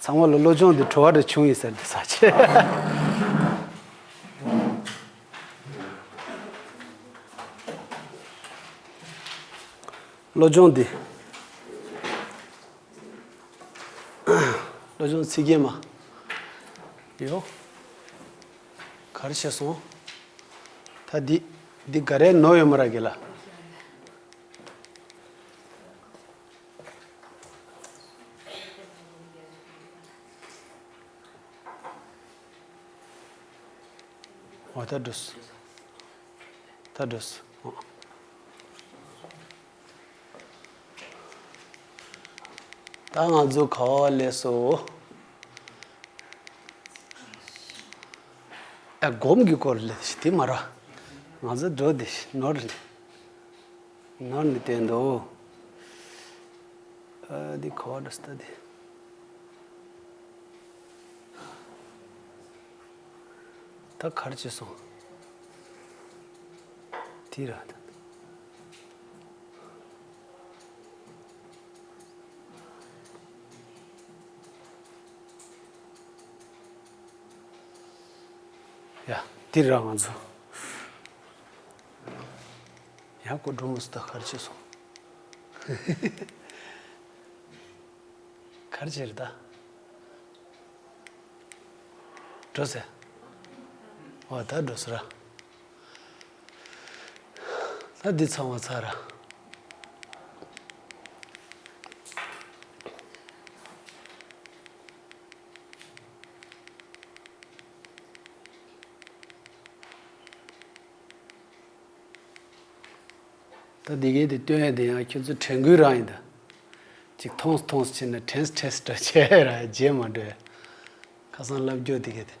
ཚང་མ་ལ་བློ་སྦྱོང་དེ་བྲོ་བ་འདྲ་བྱུང་ཡིན་ཟེར་འདི་ཟ་བློ་སྦྱོང་འདི་བློ་སྦྱོང་ཚིག་རྒྱན་མ་ཡོ་གར་བྱས་སོང་ད་འདི་འདི་ག་རེ་ནོ་ཡོད་མ་ར་གི་ལ། ཨོ་ད་འགྲོ། ད་འགྲོ། ད་ང་ཚོ་ཁ་བ་ལས་སོ། ཨ་སྒོམ་གྱི་སྐོར་ལས་དེ་མ་ར་ང་ཚོ་འགྲོ་དེ་ནོར། ནོར་ནི་བསྟན་ཏོ། འདི་གོ་བ་འདྲ་སྟེ་འདི། ད་གར་བྱས་སོང། དེ་ར། ཡ། དེ་ར་ང་ཚོ། ཡང་སྐུ་འགྲོ་མུ་སྟེགས་ཁར་ཕྱིན་སོང། གར་བྱེད་རི་དྭགས། འགྲོ་ཟེར། འོ་ད་འགྲོ་ཟེར་ར། ད་འདི་ཚང་བ་ཚར་ར། ད་འདི་གའི་དེ་སྟོན་ཡས་དེ་ཡང་ཁྱོད་ཚོ་དྲན་གུས་རང་ཡིན་ད། ཅིག་ཐོངས་ཐོངས་བྱེད་ན་དྲན་ཐྲས་འདྲ་བྱས་ཡས་ར་རྗེས་མ་འགྲོ་ཡས། ཁ་སང་ལབ་རྒྱོ་དེ་གའི་དེ།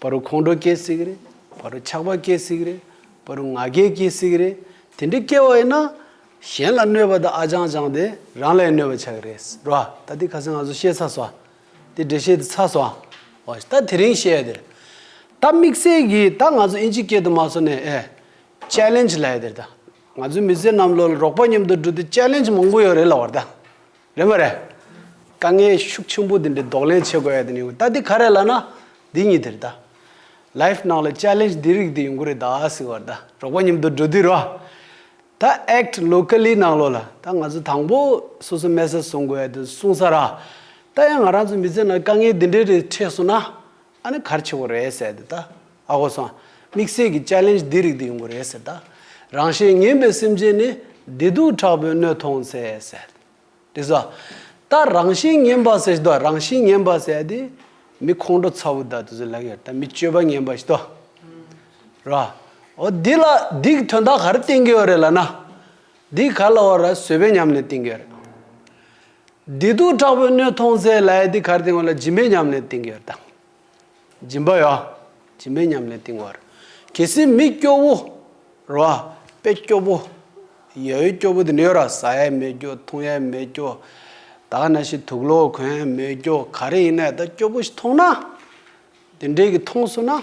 བ་རུ་ཁོང་ཁྲོ་སྐྱེ་སྲིད་ཀྱི་རེད། བ་རུ་ཆགས་པ་སྐྱེ་སྲིད་ཀྱི་རེད། བ་རུ་ང་རྒྱལ་སྐྱེ་སྲིད་ཀྱི་རེད། དེ་འདྲའི་སྐྱེ་བ་ཡིན་ན། གཞན་ལ་གནོད་པ་དང་ཨ་ཅང་ཅང་དེ་རང་ལས་གནོད་པ་ཆགས་ཀྱི་རེད། རེད་བ། ད་དེ་ག་ཚོད་ང་ཚོ་ཤེས་ཚར་སོང། དེ་འདྲས་ཤེས་ཚར་སོང། བ། ད་དེ་རིང་ཤེས་དེར། ད་དམིགས་བསལ་གྱིས་ད་ང་ཚོ་ཨིན་ཇི་སྐད་དུ་མ་སོ་ནས་ཨེ། Challenge། ལ་ཡོད་དེར་ད། ང་ཚོའི་མི་སེར་རྣམས་ལོ་རོགས་པ་མཉམ་དུ་འགྲོ་དུས Challenge མང་པོ་ཡོད་རེད་ལ་བར་ད། རེད་མ་རེད། དཀའ་ངལ་ཤུགས་ཆེན་པོ་དེ་འདྲའི་ལྡོག་ལན་བྱེད་དགོས་ཡ་དེ་ནི་ཡོང་ད་དེ་ག་རེད་ལ་ན། འདི་གཉིས་དེ་རེད་ད། Life ནང་ལ Challenge འདི་རིགས་དེ་ཡོང་གི་རེད་ད་ཟེར་བར་ད་གྲོགས་པོ་མཉམ་དུ་འགྲོ་དུས་རོ། ད Act Locally ནང་ལོ་ལ་ད་ང་ཚོ་དང་པོ་སོ་སོ་མལ་ས་བཟུང་དགོས་ཡ་དེ་གསུངས་ས་ར། ད་ཡང་ང་རང་ཚོ་མི་ཚེ་ནང་དཀའ་ངལ་འདི་འདྲའི་རེ་འཕྲད་སོང་ན། ཨ་ནི་གར་ཆེ་བོ་རེད་ཟེར་དེ་ད། ཨ་ཧོ་སང། དམིགས་བསལ་གྱི Challenge འདི་རིགས་དེ་ཡོང་གི་རེད་ཟེར་ད། རང་གཞན་ངན་པའི་སེམས་ཅན་ནི། བདེ་སྡུག་དྲག་པོའི་སྣོད་མཐོང་ཚེ་ཟེར། དེ་ཟ། ད་རང་གཞན་ངན་པ་ཟེར་ཟློ་རང་གཞན་ངན་པ་ཟེར་དེ། མི་ཁོང་ཁྲོ་ཚ་བོ་ད་དེ་ཟོ་ལགས་ཡོད་ད་མི་སྤྱོད་པ་ངན་པ་ཟློ། ར། ཨོ་འདི་ལ་འདིག་དོན་དག་ག་རེ་བསྟན་གྱི་ཡོད་རེད་ལ་ན། འདིག་ག་ལ་བ་ར་བཟོད་པའི་ཉམས་ལེན་བསྟན་གྱི་ཡོད་རེད། བདེ་སྡུག་དྲག་པོའི་སྣོད་མཐོང་ཚེ་ལ་ཡ་དེ་གར་བཏིང་བ་ལ་སྦྱིན་པའི་ཉམས་ལེན་བཏིང་གི་ཡོད་དམ། སྦྱིན་པ་ཡོད། སྦྱིན་པའི་ཉམས་ལེན་བཏིང་བར། གལ་སྲིད་མི་སྐྱོ་བོ། རེ་བ། དཔེ་སྐྱོ་བོ། ཡ་ཡོད་སྐྱོ་བོ་དེ་འདྲ་ཡོད་ར་ཟ་ཡས་མེད་སྐྱོ་འཐུང་ཡས་མེད་སྐྱོ། དག་ན་ཞིག་དུག་ལོག་གོན་ཡས་མེད་སྐྱོ་ག་རེ་ཡིན་ན་ཡ་ད་སྐྱོ་བོ་ཞིག་མཐོང་ན། དེ་འདྲས་ཀྱི་མཐོང་སོང་ན།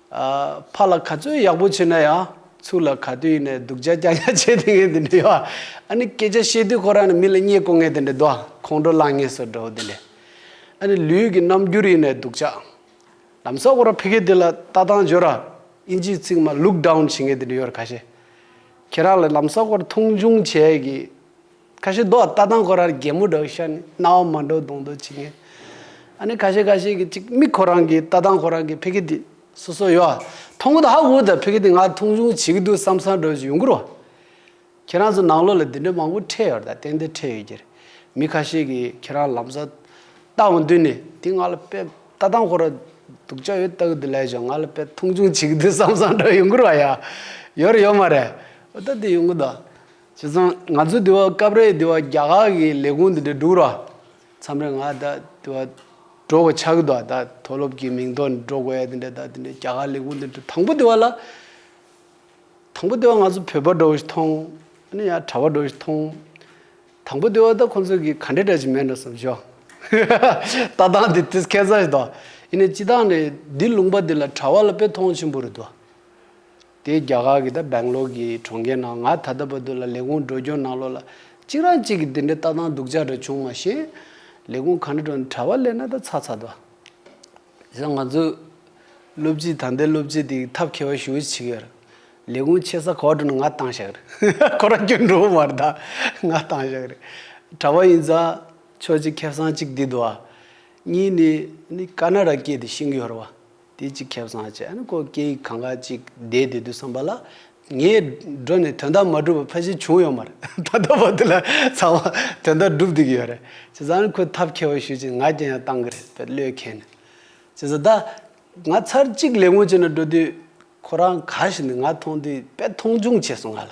ཕར་ལ་ག་ཚོད་ཡག་པོ་བྱས་ན་ཡང་ཚུར་ལ་ག་དུས་ནས་སྡུག་ཅག་ཀྱག་ཀྱག་བྱས་དེ་ངས་དེ་འདྲ་ཡོད་ཨ་ནི་སྐད་ཆ་བཤད་དུས་ཁོ་རང་ནི་མི་ལ་བརྙས་བསྐོ་ངས་དེ་འདྲ་དོ་ཁོང་ཁྲོ་ལངས་ངས་སོ་འདྲའོ་དེ་འདྲས་ཨ་ནི་ལུས་ཀྱི་རྣམ་འགྱུར་ཡིན་ནས་སྡུག་ཅག། ལམ་སང་ཁོ་རང་ཕི་གེ་དེ་ལ་ལྟ་སྟངས་སྦྱོར་ར་ཨིན་ཇིའི་ཚིག་སྨྲ look down བྱེད་ངས་དེ་འདྲ་ཡོད་ར་ག་ཤེད། ཁྱེད་རང་ལ་ལམ་སང་ཁོ་ར་མཐོང་ཆུང་བྱས་ཀྱི་ཁ་ཤས་རྡོག་རྟ་དང་ཁོ་རར་རྒྱལ་མོ་འགྲོགས་ཤར་ནས་རྣ་བ་མ་འགྲོ་གདོང་འགྲོ་བྱེད་ངེས། ཨ་ནི་ཁ་ཤས་ཁ་ཤས་ཀྱིས་ཅིག་མིག་ཁོ་རང་གི་རྟ་དང་ཁོ་རང་གི་ཕི་གི་དེ་སོ་སོ་ཡོད། མཐོང་གི་འདུག་ཧ་གོ་ད་ཕི་གི་དེ་ང་མཐོང་ཆུང་བྱེད་ཀྱི་འདུག་བསམ་བསམ་འགྲོ་བྱེད་ཡུན་འགོར་བ། ཁྱེད་རང་ཚོ་ནང་ལོགས་ལ་དེ་འདྲའི་མང་པོ་འཕྲད་ཡོད་ད་ཏན་ཏན་འཕྲད་ཡོད་ཀྱི་རེད། མི་ཁ་ཤས་ཀྱིས་ཁྱེད་རང་ལམ་བཟའ་ལྟ་བ་མདུན་ནས་དེ་ང་ལ་ཕེབས་རྟ་དང་ཁོ་ར་སྡུག་ཅག་ཡོད་ལྟ་གི་འདུག་ལས་བྱུང་ང་ལ་ཕེབས་མཐོང་ཆུང་བྱེད་ཀྱི་འདུག་བསམ་བསམ་འགྲོ་ཡུན་འགོར་བ་ཡ། ཡོད་རེད་ཡོད་མ་རེད། འོ་ད་དེ་ཡོང་གི་འདུག། བྱས་ཙང་ང་ཚོ་དེ་བ་སྐབས་རེ་དེ་བ་རྒྱ་གར་གི་ལས་ཁུངས་དེ་འདྲ་སྒྲུག་རོགས་ཨ། མཚམས་རེ་ང་ད་དེ་བ་འགྲོ་དགོས་ཆགས་ཀྱི་འདུག་ཨ་ད་མཐོ་སློབ་ཀྱི་མིང་ཐོག་ནས་འགྲོ་དགོས་ཨ་དེ་འདྲ་ད་དེ་འདྲ་རྒྱ་གར་ལས་ཁུངས་དེ་འདྲ་དང་པོ་དེ་བ་ལ། དང་པོ་དེ་བ་ང་ཚོ་བོད་པ་འགྲོ་བཞིན་མཐོང། ཨ་ནི་ཡང་གྲྭ་བ་འགྲོ་བཞིན་མཐོང། དང་པོ་དེ་བ་ད་ཁོང་ཚོ་གིས་ག་འདྲས་དྲག་ཅིག་མེད་འགྲོ་བསམ་བཞོ། ལྟ་སྟངས་དེ་དེ་སྐད་ཚ་ཞིག་འདུག་ཨ། ཨི་ནི་སྤྱི་སྟངས་ནི་འདི་ལུང་པ་འདི་ལ་གྲྭ་བ་ལ་དཔེ་མཐོང་ཆེན་པོ་རེད་འདུག་ཨ། དེ་རྒྱ་གར་གྱི་དང་སྦེང་ལོར་གྱི་གྲོང་ཁྱེར་ནང་ང་ད་ལྟ་བར་དུ་ལ་ལས་ཁུངས་འགྲོ་སྐྱོད་གནང་ལོ་ལ་གཅིག་རང་གཅིག་གི་དེ་འདྲའི་ལྟ་སྟངས་སྡུག་ཅག་འདྲ་བྱུང་མ་ཤེས། ལས་ཁུངས་ག་འདྲ་འགྲོ་གྲྭ་བ་ལས་ན་ད་ཚ་ཚ་དོ། དེ་སང་ང་ཚོས་སློབ་སྤྱི་ད་ལྟའི་སློབ་སྤྱི་དེ་གི་ཐབས་མཁས་བ་ཞུ་བ་ཆི་གི་ཡར། ལས་ཁུངས་ཆེ་ས་ག་བ་འགྲོ་ན་ང་བཏང་བཞག་གི་རེད་ཁོ་རང་སྐྱོད་འགྲོ་བ་མར་ད་ང་བཏང་བཞག་གི་རེད། གྲྭ་བ་ཡིན་ཙང་ཆོག་ཅིག་ཁེབས་སང་ཅིག་འདི་དུ་བ། གཉིས་ནི་ནི་ཀ་ན་ར་སྐྱེས་དེ་ཤིང་གི་ཧོར་བ། དེ་ཅིག་ཁྱབ་སངས་ཅན་ནི་ཀོ་ཀེ་ཡིག་གང་ག་ཅིག་བདེ་བདེ་དུ་བསམ་པ་ལ། ངས་འགྲོ་ནས་དོན་དག་མ་བསྒྲུབས་པ་ཕ་གཞི་བྱུང་ཡོད་མ་རེད། ད་ལྟ་བར་དུ་ལ་ཚང་མ་དོན་དག་བསྒྲུབས་བསྡུས་ཀྱི་ཡོད་རེད། བྱས་ཙང་ནི་ཁོས་ཐབས་མཁས་པ་ཞུས་ཅིང་ང་རྒྱལ་ཡང་བཏང་གི་རེད་བེད་ལོས་མཁན་ནི། བྱས་ཙང་ད་ང་ཚར་གཅིག་ལས་ངོ་ཅི་ན་འགྲོ་དུས། ཁོ་རང་ག་ཞིག་ནས་ང་མཐོང་དུས་བེད་མཐོང་ཆུང་བྱས་སོང་ང་ལ།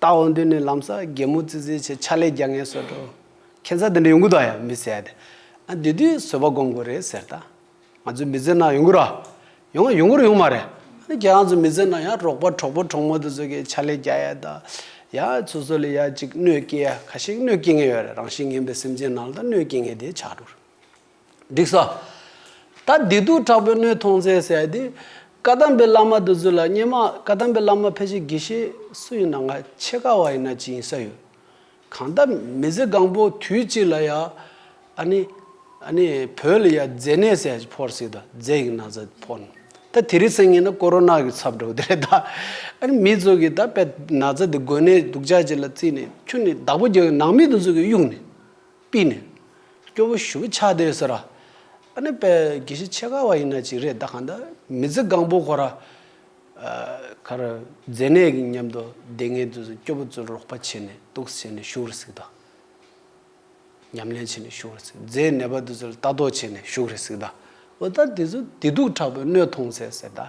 རྟ་བོ་འདི་ནི་ལམ་སར་རྒན་མོ་ཙི་ཙིའི་ཆེད་ཕྱག་ལས་རྒྱག་ངེས་བཟོས་འགྲོ། ཁྱད་མཚར་འདི་འདྲ་ཡོང་གི་འདུག་ཡང་མི་ཟེར། དེ་དུས་བཟོད་པ་སྒོམ་དགོས་རེད་ཟེར། ད་ང་ཚོས་མི་བཟོད་ན་ཡོང་གི་ར། ཡོང་ཡོང་གི་ར་ཡོང་མ་རེད། ཁྱེད་རང་ཚོས་མི་བཟོད་ན་ཡང་རོགས་པ་གྲོགས་པོ་གྲོགས་མོ་དེ་ཚོ་གིས་ཕྱག་ལས་རྒྱག་ཡ་ད། ཡང་ཚོ་ཚོ་ལས་ཡག་ཅིག་གནོད་སྐྱེལ་ཡ་ཁ་ཤས་གནོད་སྐྱེལ་ངེས་ཡོད་རེད་རང་བཞིན་ངན་པའི་སེམས་ཅན་ནང་ལ་གནོད་སྐྱེལ་ངེས་དེ་ཆགས་འགྲོ་རེད། འགྲིག་ས། ད་སྡིག་སྡུག་དྲག་པོའི་སྣོད་མཐོང་ཚེ་ཟེར་དེ། བཀའ་གདམས་པའི་བླ་མ་འདི་ཚོ་ལ་སྙན་མ་བཀའ་གདམས་པའི་བླ་མ་ཕལ་ཆེར་དགེ་བཤེས་སུ་ཡིན་ན་ང་ཆེ་ཁ་བ་ཡིན་ན་ཅི་ཡིན་ས་ཡོད། གང་ལྟར་མི་ཚེ་གང་པོ་དུས་གཅིག་ལ་ཡང་ཨ་ནི་ཨ་ནི་བོད་ལ་ཡང་རྫས་ནད་ཟེར་ཡ་ཕོར་སྲིད་ད་རྫས་ཡིག་ན་ཟ་ཕོར་ནི་ད་དེ་རིགས་སེང་ངེ་ན་ཀོ་རོ་ནག་གི་ཚབ་འགྲོ་གི་དེ་རེད་ད། ཨ་ནི་མི་ཚོ་གི་ད་དཔེ་ན་ཟ་དེ་འགོས་ནད་སྡུག་ཅག་ཅིག་ལ་བརྩིས་ནས་ཁྱོད་ནི་བདག་པོ་རྒྱལ་བའི་ནང་མི་དེ་ཚོ་གི་གཡུག་ནས། པི་ནི། སྐྱོ་བོ་ཞུ་བི་ཆགས་དེས་ཟེར། ཨ་ནི་པས་གྱི་ཤི་ཆེ་ག་བ་ཡིན་ན་ཅིག་རེད་ད་གང་འདི་མི་ཚི་གང་པོ་གོ་ར། ཁ་ར། རྫས་ནད་ཀྱི་མཉམ་དུ་བསྡད་ངེས་དུས་སུ་སྐྱོ་བོ་ཚོས་རོགས་པ་བྱས་ནས་གཏུགས་བྱས་ནས་ཞུགས་རུ་ཟིག་ད། ཉམས་ལེན་བྱས་ནས་ཞུགས་རུ་ཟིག་རྫས་ནད་པ་དུས་སུ་ལྟ་རྟོག་བྱས་ནས་ཞུགས་རུ་ཟིག་ད། འོ་ད་དེ་ཚོས་བདེ་སྡུག་དྲག་པོའི་གནོད་མཐོང་ཚེ་ཟེར་ད།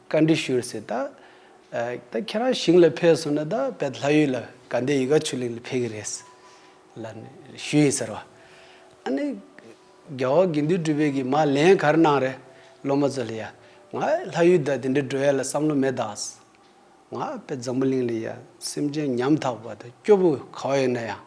བཀའ་འདྲི་ཞུ་ཟེར་ད། ད་ཁྱེད་རང་ཞིང་ལ་ཕེབས་སོང་ན་ད་བད་ལྷ་ཡུལ་ལ་ག་འདའི་ཡི་ག་ཆུ་གླིང་ལ་ཕེབས་ཀྱི་རེད། ལ་ཞུ་ཡིན་ཟེར་བ། ཨ་ནི། རྒྱ་བོད་དགེ་འདུན་སྤྲུལ་པའི་གིས་མ་ལན་ག་རེ་གནང་རེད་སློབ་མ་ཚོ་ལ་ཡ། ང་ལྷ་ཡུལ་ད་དེ་འདྲའི་འགྲོ་ཡ་ལ་བསམ་བློ་མེད་ད། ང་བད་འཛམ་བུ་གླིང་ལ་ཡ་སེམས་ཅན་ཉམ་ཐག་པ་ད་སྐྱོ་པོ་ག་བ་ཡོད་ན་ཡང་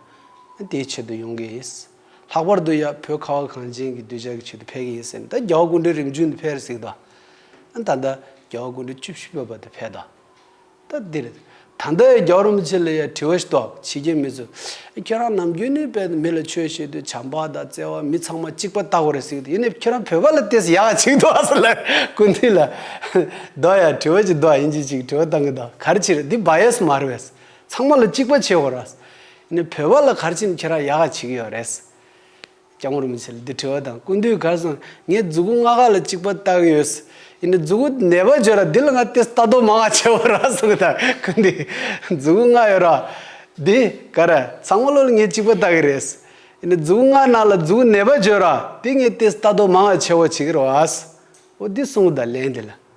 ཨ་དེའི་ཆེད་དུ་ཡོང་གི་ཡིན། ལྷག་པར་དུ་ཡ་བོད་ཁ་བ་གངས་ཅན་གྱི་གདུལ་བྱ་གི་ཆེད་དུ་ཕེབས་ཀྱི་ཡིན་སེམས་ད་རྒྱ་བ་དགུ་འབྲེལ་རིམ་བྱོན་དུ་ཕེབས་ཟིག་ད། ཨ་ད་ལྟ་རྒྱ་བ་དགུ་འབྲེལ་བཅུ་བཞི་བོད་པ་དུ་ཕེབས་ད། ད་འདིར་ད་ལྟ་ཡ་རྒྱ་བ་རིན་པོ་ཆེ་ལ་ཡ་དྲི་བ་ཞིག་དོགས་བྱེད་ཀྱི་མི་ཚོས་ཨ་ཁྱེད་རང་ནམ་རྒྱུན་ནས་བལ་དུ་མི་ལ་ཆོས་བྱེད་དུས་བྱམས་པ་དང་བརྩེ་བ་མི་ཚང་མ་གཅིག་པ་བལྟ་གོ་རེ་ཟིག་ད་ཡིན་ནས་ཁྱེད་རང་བོད་པ་ལ་བལྟས་ཟིག་ཡག་ག་ཅིག་དོགས་ཟིག་ལབ་ཀུན་དུས་ལ། དོགས་ཡ་དྲི་བ་ཅིག་དོགས་ཡིན་གྱི་ཅིག་དྲི་བ་བཏང་གི་དོགས་ག་རེ་བྱེད་རེ་འདི་བ་ཡས་སུ་མ་རེ་བས། ཚང་མ་ལ་གཅིག་པ་བྱེད་གོ་ར། ནི་བོད་པ་ལ་གར་ཆེམས་ཁྱེར་བ་ཡག་ག་བྱེད་ཀྱི་ཡོད་རེད། སྐྱག་མོར་མི་བྱེད་ལ་འདི་བྲིས་བ་དང་ཀུན་བཏུས་གར་སོང་ངས་རྫུ་གུ་ལྔ་ཁ་ལ་གཅིག་པ་བལྟ་གི་ཡོད། ཡིན་ནའི་རྫུ་གུ་ནད་པ་བརྗོད་ལ་འདི་ལ་ང་ཏེ་ལྟ་དོ་མ་ང་བྱེད་བོ་ར་སོང་གི་དང་ཀུན་བཏུས་རྫུ་གུ་ལྔ་ཡོད་ར། འདི་གར་ཚང་མ་ལོ་ལ་ངས་གཅིག་པ་བལྟ་གི་རེད། ཡིན་ནའི་རྫུ་གུ་ལྔ་ནང་ལ་རྫུ་གུ་ནད་པ་བརྗོད་ར་འདི་ངས་ཏེ་ལྟ་དོ་མ་ང་བྱེད་བོ་བྱེད་ཀྱི་ར་བ། འོ་འདི་སོང་གི་དང་ལན་འདི་ལ་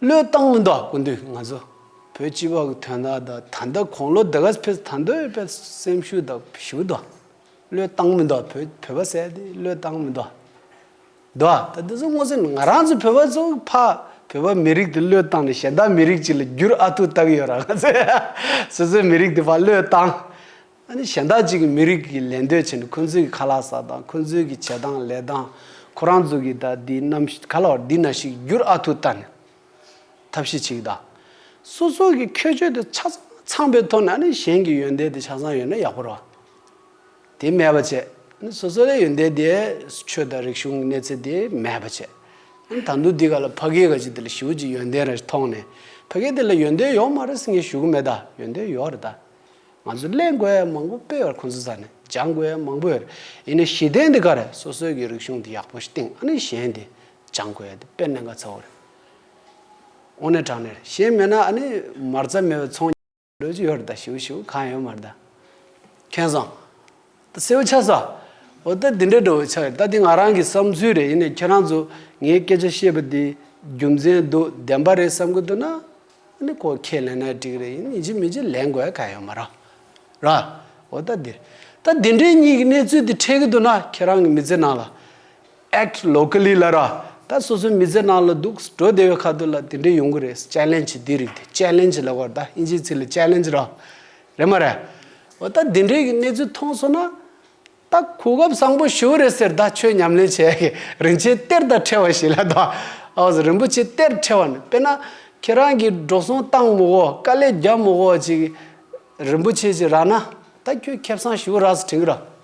བློས་བཏང་མི་འདུག་སྐུ་མདུན་ང་ཚོ་བོད་སྤྱི་བ་གི་དོན་དག་དག་ད་ལྟ་གོང་ལོ་དགའ་ཕེབས་ད་འདོད་ཕེབས་སེམས་ཤུགས་དག་ཞུ་དག་བློས་བཏང་མི་འདུག་བོད་བོད་པ་བསད་དེ་བློས་བཏང་མི་འདུག་འདུག་ད་འདི་ཚོ་སྔོ་ཚལ་ང་རང་ཚོ་བོད་པ་ཚོ་ཕ་བོད་པ་མི་རིགས་དེ་བློས་བཏང་ནས་གཞན་དག་མི་རིགས་ཅིག་ལ་བསྒྱུར་ཨ་ཐུག་བཏགས་ཡོད་ར་ང་ཚོས་སོ་སོའི་མི་རིགས་དེ་ཕ་བློས་བཏང་ཨ་ནི་གཞན་དག་ཅིག་གིས་མི་རིགས་ཀྱི་ལས་འདོད་བྱས་ནས་ཁོ་ཚོའི་ཁ་ལག་ཟ་དང་ཁོ་ཚོའི་གི་བྱེད་སྟངས་ལས་སྟངས་ཁོ་རང་ཚོ་གི་ད་འདི་ནམ་ག་ལ་བར་འདི་ན་ཞིག་བསྒྱུར་ཨ་ཐུ་ད་ནི་ཐབས་ཤེས་ཅིག་དང། སོ་སོ་གི་ཁྱོད་ཆོས་དེ་ཆ་ཚང་ཚང་པའི་ཐོག་ནས་ཨ་ནི་གཞན་གི་ཡོན་ཏན་དེ་ཆ་ཚང་ཡོད་ན་ཡག་པོ་ར་དེ་མེད་པ་བྱས་ཨ་ནི་སོ་སོ་ལས་ཡོན་ཏན་དེ་ཆོས་དང་རིག་གཞུང་གི་གནས་ཚད་དེ་མེད་པ་བྱས་ཨ་ནི་ད་འདུག་འདི་ག་ལ་ཕ་གིའི་ག་ཅིག་དེ་ལ་ཞི་བུ་ཅིག་ཡོན་ཏན་ར་ཞིག་མཐོང་ནས་ཕ་གི་དེ་ལ་ཡོན་ཏན་ཡོག་མ་ར་སི་ངས་ཞུ་གི་མེད་ད་ཡོན་ཏན་ཡོག་ར་ད། ང་ཚོས་གླེང་དགོས་ཡས་མང་པོ་སྤེལ་བར་ཁོང་ཚོ་ཚ་ནས་སྦྱང་དགོས་ཡས་མང་པོ་ཡོད་རེད་ཡིན་ནའི་ཞི་བདེ་འདི་ག་རེད་སོ་སོའི་གི་རིག་གཞུང་འདི་ཡག་པོ་ཞིག་སྟེང་ཨ་ནི་གཞན་དེ་སྦྱང་དགོས་ཡས་དེ་དཔེར་ནས་འགའ་ཚ་བོ་རེད་དབུ་ནས་དྲང་ནས་རེད་གཞན་མེད་ན་ཨ་ནི་མར་ཚ་མེད་པའི་ཚོང་ལོས་ཀྱི་ཡོད་རེད་ད་ཞུ་ཞུ་གང་ཡོད་མར་ད་མཁན་བཟང། ད་སེའུ་ཆ་ཟ། འོ་ད་དེ་འདྲའི་དྲོ་བའི་ཆ་ཡོད་ད་དེ་ང་རང་གི་བསམ་ཚུལ་རེད་ཡིན་ནས་ཁྱེད་རང་ཚོ་ངའི་སྐད་ཆ་བཤད་པ་དེ་རྒྱུ་མཚན་འདུག་བདེན་པ་རེད་བསམ་གི་འདུག་ན་ནི་ཁོ་ཁས་ལེན་ན་འགྲིག་རེད་ཡིན་ནས་ཅི་མི་ཅི་ལེན་དགོས་གལ་ཡོད་མ་རང་ར། འོ་ད་དེ་ད་དེ་འདྲའི་གཉིས་ཀྱི་གནས་ཚུལ་དེ་འཕྲད་གི་འདུག་ན་ཁྱེད་རང་གི་མི་ཚེ་ནང་ལ། Act locally ལ་ར། ད་སོ་སོའི་མི་ཚེ་ནང་ལ་འདུག་འགྲོ་བདེ་བའི་ཁ་ཐུག་ལ་དེ་འདྲའི་ཡོང་གི་རེད Challenge དེ་རིགས་དེ Challenge ལ་གོ་ད་དབྱིན་ཇིའི་ཚིག་ལ Challenge ར། རེད་མ་རེད། འོ་ད་འདི་འདྲའི་གནས་ཚུལ་མཐོང་སོང་ན། ད་གོ་སྐབས་བཟང་པོ་ཞུ་རེད་ཟེར་ད་ཆོས་ཉམས་ལེན་བྱས་ཀྱི་རིན་ཆེན་གཏེར་དང་ཕྲལ་བ་ཞིག་ལ་ད་ཨོ་ཟེར་རིན་པོ་ཆེ་གཏེར་ཕྲལ་བ་ནི་དཔེར་ན་ཁྱེད་རང་གིས་འགྲོ་སོང་བཏང་མོ་གོ་དཀའ་ལས་རྒྱབ་མོ་གོ་ཅིག་རིན་པོ་ཆེ་ཅིག་རག་ན་ད་ཁྱོས་ཁེབས་སང་ཞུ་རགས་སུ་དྲིང་རགས།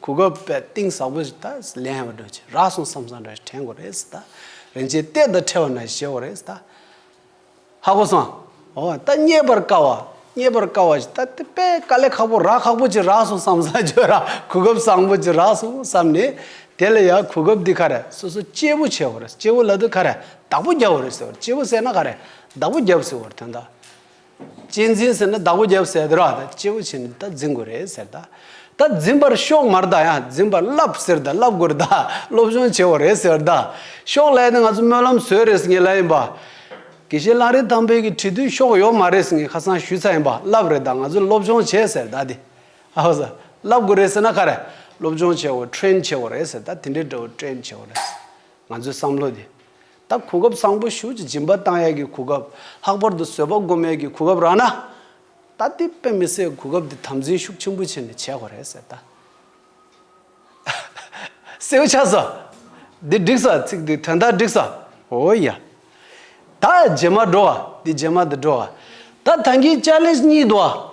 གུ་གུལ་པད་གཏིང་ཟག་པོ་ཞིག་ད་ལན་ཧེ་བ་འདོད་ཆེ་རག་སོང་བསམ་བསམ་རེད་དྲན་གོ་རེ་ད་རིན་ཆེན་གཏད་ད་ཁྲེལ་བ་ན་བཞེས་བོ་རེ་ད། ཧ་གོ་སང། ཨོ་ད་རྙེད་པར་དཀའ་བ། རྙེད་པར་དཀའ་བ་ཞིག་ད་དེ་པད་དཀའ་ལས་ཁག་པོ་རག་ཁག་པོ་ཅིག་རག་སོང་བསམ་བསམ་ཁྱོད་རག་གུ་གུལ་བཟང་པོ་ཅིག་རག་སོང་བསམ་ནས་དེ་ལ་ཡང་གུ་གུལ་འདི་ཁ་རེ་སོ་སོ་སྐྱེས་བོ་བྱས་བོ་རེ་སྐྱེས་བོ་ལ་དེ་ཁ་རེ་བདག་པོ་བརྒྱབ་བོ་རེ་ཟེར་བ་སྐྱེས་བོ་བསད་ན་ཁ་རེ་བདག་པོ་བརྒྱབ་ཟེར་བོར་དོན་དག། གཅེས་འཛིན་ཟེར་ན་བདག་པོ་རྒྱབ་ཟེར་དཱ་ར་དང་གཅེས་པོ་བྱས་ནས་ད་འཛིན་དགོས་རེད་ཟེར་དཱ། ད་འཛིན་པར་ཤོག་མར་དཱ་ཡང་འཛིན་པར་བསླབ་ཟེར་དཱ་བསླབ་དགོས་རེད་དཱ་སློབ་སྦྱོང་བྱེད་དགོས་རེད་ཟེར་དཱ། ཤོག་ལས་ནི་ང་ཚོ་སྨོན་ལམ་བཟོས་རེད་ཟེར་ངེས་ལ་ཡིན་པཱ། དགེ་བཤེས་གླང་རི་ཐང་འཕེལ་གྱི་བྲིས་དུས་ཤོག་ཡོད་མ་རེད་ཟེར་ངེས་ཁ་སང་ཞུས་ཚར་ཡིན་པཱ་བསླབ་རེད་དཱ་ང་ཚོས་སློབ་སྦྱོང་བྱེད་ཟེར་དཱ་དེ། ཨ་ཧོ་ཟེར། བསླབ་དགོས་རེད་ཟེར་ན་ཁ་རེད། སློབ་སྦྱོང་བྱེད་དགོས train བྱེད་དགོས་རེད་ཟེར་དཱ་དེ་འདྲའི་འདྲ་བོ train བྱེད་དགོས་རེད། ང་ཚོའི་བསམ་བློ་དེ། ད་གོ་སྐབས་བཟང་པོ་ཞུ་ཅི་སྦྱིན་པ་བཏང་ཡས་ཀྱི་གོ་སྐབས་ལྷག་པར་དུ་བཟོད་པ་སྒོམ་མེད་ཀྱི་གོ་སྐབས་རག་ན། ད་ཏི་དཔེ་མི་སེ་གོ་སྐབས་དེ་དམ་འཛིན་ཤུགས་ཆེན་པོ་བྱེད་ནས་བྱས་དགོ་རེད་ཟེར་ད། སེའུ་ཆ་ཟ། འདི་བསྒྲིགས་ས་ཚིག་འདི་དོན་དག་བསྒྲིགས་ས། འོ་ཡ། ད་རྗེས་མ་འགྲོ་བ་འདི་རྗེས་མ་འདི་འགྲོ་བ། ད་ད་ངི་ཅག་ལེས་གཉིས་འདུ་བ།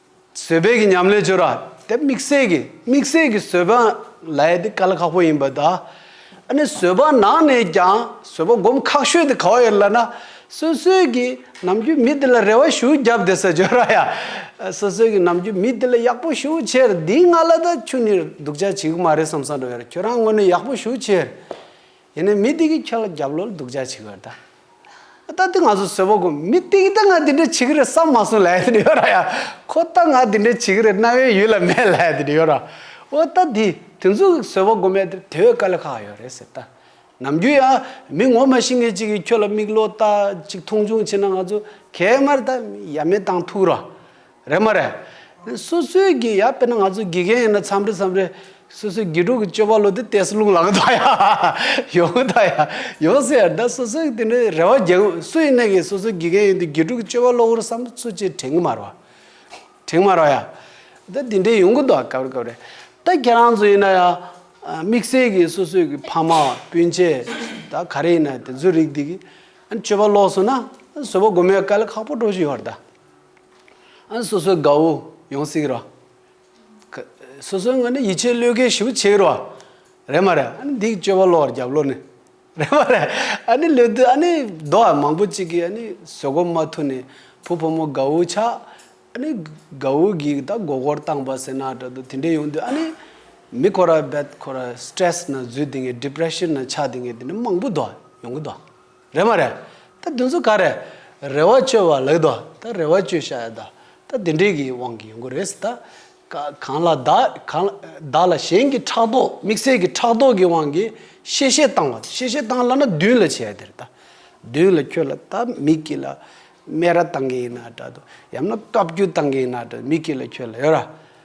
བཟོད་དཔལ་གྱི་ཉམས་ལེན་སྦྱོར་བ། དེ་དམིགས་བསལ་གྱི་དམིགས་བསལ་གྱི་བཟོད་པ་ལས་དེ་ག་ལ་ཁག་པོ་ཡིན་པ་དང། ཨ་ནི་བཟོད་པ་ནང་ནས་ཀྱང་བཟོད་པ་བསྒོམ་ཁག་ཤོས་དེ་ག་བ་ཡིན་ལབ་ན། སོ་སོའི་གི་ནམ་རྒྱུན་མི་དེ་ལ་རེ་བ་ཞུ་བརྒྱབ་དེ་སོ་སྦྱོར་བ་ཡ། སོ་སོའི་གི་ནམ་རྒྱུན་མི་དེ་ལ་ཡག་པོ་ཞུ་ཕྱིར་འདིའི་ང་ལ་ད་ཁྱོད་ནི་སྡུག་ཅག་བྱེད་གི་མ་རེད་བསམ་བསམ་རེད་ཁྱོད་རང་ངོ་ནས་ཡག་པོ་ཞུ་ཕྱིར། ཡིན་ནའི་མི་དེ་གིས་ཁྱོད་ལ་རྒྱབ་ལོག་ལ་སྡུག་ཅག་བྱེད་ཀྱི་ཡོད་དཱ། ད་དེ་ང་ཚོ་བཟོད་པོ་དགོས། མི་དེ་གིས་ད་ང་དེ་འདྲ་བྱེད་ཀྱི་རེད་བསམ་མ་སོང་ལད་ཟེར་ཡོད་ར་ཡ། ཁོ་ད་ང་དེ་འདྲ་བྱེད་ཀྱི་རེད་རྣ་བའི་ཡུལ་ལ་མེད་ལད་ཟེར་ཡོད་ར། འོ་ད་དེ་དེ་ཚོ་གིས་བཟོད་པོ་དགོས་མེད་དེ་དེ་བས་དཀའ་ལས་ཁག་ཡོད་རེད་ཟེར་དཱ། ནམ་རྒྱུན་ཡང་མི་ངོ་མ་ཤི་ངེས་ཅིག་གིས་ཁྱོད་ལ་མིག་ལོག་ལྟ་ཅིག་མཐོང་ཆུང་བྱེད་ན་ང་ཚོ་གད་དམར་དཱ། ཡ་མེད་དང་ཐུག་ར། རེད་མ་རེད། སོ་སོའི་དགེ་ཡ་དཔེར་ན་ང་ཚོ་དགེ་རྒན་ཡིན་ན་འཚམས་འདྲི་འཚམས་འདྲི། སོ་སོའི་དགེ་ཕྲུག་གི་སྤྱོད་པ་ལོ་དེ་བལྟས་སུ་རླུང་ལངས་ཐག་ཡ། ཡོང་ཐག་ཡ། ཡོང་ཟེར་ཡར་ཟླ་སོ་སོའི་དེ་འདྲའི་རེ་བ་རྒྱག་ཨུ་སུ་ཡིན་ནའི་གི་སོ་སོའི་དགེ་རྒན་ཡིན་དུས་དགེ་ཕྲུག་གི་སྤྱོད་པ་བློ་བུར་བསམ་ཚུལ་ཚོད་ཅིག་དྲན་གི་མ་རེད་བ། དྲན་གི་མ་རེད་བ་ཡ། ད་དེ་འདྲའི་ཡོང་གི་འདུག་ག་བ་རེ་ག་བ་རེ། ད་ཁྱེད་རང་ཚོ་ཡིན་ན་ཡང། དམིགས་བསལ་གི་སོ་སོའི་གི་ཕ་མ་སྤུན་མཆེད་ད་ག་རེ་ཡིན་ན་དེ་ཚོའི་རིགས་དེ་གི། ཨ་ནི་སྤྱོད་པ་ལོགས་སོང་ན། བཟོད་པ་སྒོམ་ཡ་ག་ལ་ཁག་པོ་འགྲོ་བཞིན་ཡོད་རེད་ད། སོ་སོའི་དགའ་བོ་ཡོང་གསིག་རོ། སོ་སོའི་ངོས་ནས་ཡིད་ཆེས་བློས་འགེལ་ཞུ་ཆེ་རོ། རེད་མ་རེད། ཨ་ནི་འདིའི་སྤྱོད་པ་བློ་བར་རྒྱབ་བློ་ནི། རེད་མ་རེད། ཨ་ནི་ལོས་དུས་ཨ་ནི་རྡོ་བ་མང་པོ་ཅིག་གིས་ཨ་ནི་ཟོལ་གོ་མ་ཐུ་ནི་བུ་ཕོ་མོ་དགའ་བོ་ཆགས། ཨ་ནི་དགའ་བོ་གིས་ད་མགོ་སྐོར་བཏང་བ་ཟེར་ན་འདྲ་འདུག་དེ་འདྲས་ཡོང་དུས་ཨ་ནི་མི་ཁོ་ར་བད་ཁོ་ར stress ན་འཛུལ་དེ་ངས depression ན་ཆགས་དེ་ངས་དེ་འདྲས་མང་པོ་འདུག་ཡོང་གི་འདུག། རེད་མ་རེད། ད་བདུན་ཚོ་ག་རེད། རེ་བ་བཅོལ་བ་ལགས་དོ། ད་རེ་བ་བཅོལ་ཤ་ཡ་ད། ད་དེ་འདྲས་ཀྱི་དབང་གི་ཡོང་གི་རེད་སི་ད། གང་ལ་ད། གང་ལ་ད་ལ་གཞན་གྱི་ཕྲག་དོག་དམིགས་བསལ་གྱི་ཕྲག་དོག་གི་དབང་གིས་གཤེ་གཤེ་བཏང་བ་གཤེ་གཤེ་བཏང་ལ་ན་བདུན་ལ་བྱས་དེར་ད། བདུན་ལ་ཁྱོད་ལ་ད་མིག་གི་ལ། སྨད་ར་བཏང་གི་ཡིན་ན་དྲ་དོ། ཡང་ན་བཀའ་བརྒྱུད་བཏང་གི་ཡིན་ན་དྲ་མིག་གི་ལ་ཁྱོད་ལ་ཡོད་ར།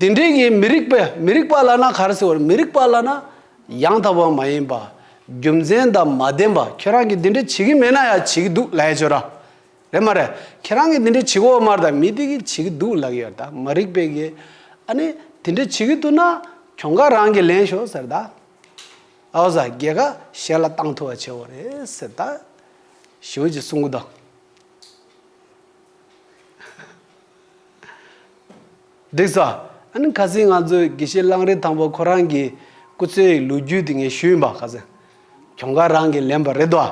དེ་འདྲའི་གྱི་མི་རིགས་པས་མི་རིགས་པ་ལ་ན་ག་རེ་ཟེར་བར་མི་རིགས་པ་ལ་ན། ཡང་དག་པ་མ་ཡིན་པ། རྒྱུ་མཚན་དང་མ་ལྡན་པ་ཁྱེད་རང་གིས་དེ་འདྲའི་བྱེད་ཀྱི་མེད་ན་ཡང་བྱེད་ཀྱི་འདུག་ལགས་ཀྱི་ཆོད་ར། རེད་མ་རེད། ཁྱེད་རང་གིས་དེ་འདྲའི་བྱེད་གོ་མར་དང་མི་དེ་གིས་བྱེད་ཀྱི་འདུག་ལགས་ཀྱི་ཡོད་ད་མ་རིགས་པས་གི། ཨ་ནི་དེ་འདྲའི་བྱེད་ཀྱི་འདུག་ན་གྱོང་ཁ་རང་གིས་ལེན་ཤོག་ཟེར་ད། ཨའོ་ཟ་རྒྱལ་ཁ་གཞན་ལ་བཏང་ཐུབ་བ་བྱེད་འོ་རེད་ཟེར་ད། ཞེའུ་ཅིས་གསུང་གི་འདུག། འགྲིག་ས། ཨཱ། ཁ་སིང་ང་ཚོའི་དགེ་བཤེས་གླང་རི་དང་པོ་ཁོ་རང་གི་སྐུ་ཚེའི་ལོ་རྒྱུས་དེ་ངས་ཞུས་ཡིན་པ་ཁ་སིང། གྱོང་ཁ་རང་གིས་ལེན་པ་རེད་དོ།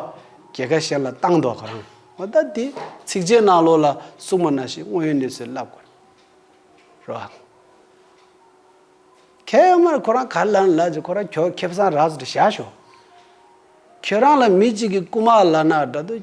གྱེས་ཁ་གཞན་ལ་བཏང་དོ་ཁོ་རང། ཨོ་ད་དེ་ཚིག་རྗེས་གནང་ལོ་ལ་སུག་མ་ན་ཞིག་དངོས་ཡོད་གནས་ཚུལ་ལབ་དགོས། རོ། ཁྱེད་ཡོད་མར་ཁོ་རང་ག་ལ་ན་ལབ་ཅེས་ཁོ་རང་གྱོ་ཁེབས་སང་རགས་ཟེར་བཞག་ཞོག། ཁྱོད་རང་ལ་མི་གཅིག་གི་རྐུ་མ་ལ་ན་དགྲ་དུ།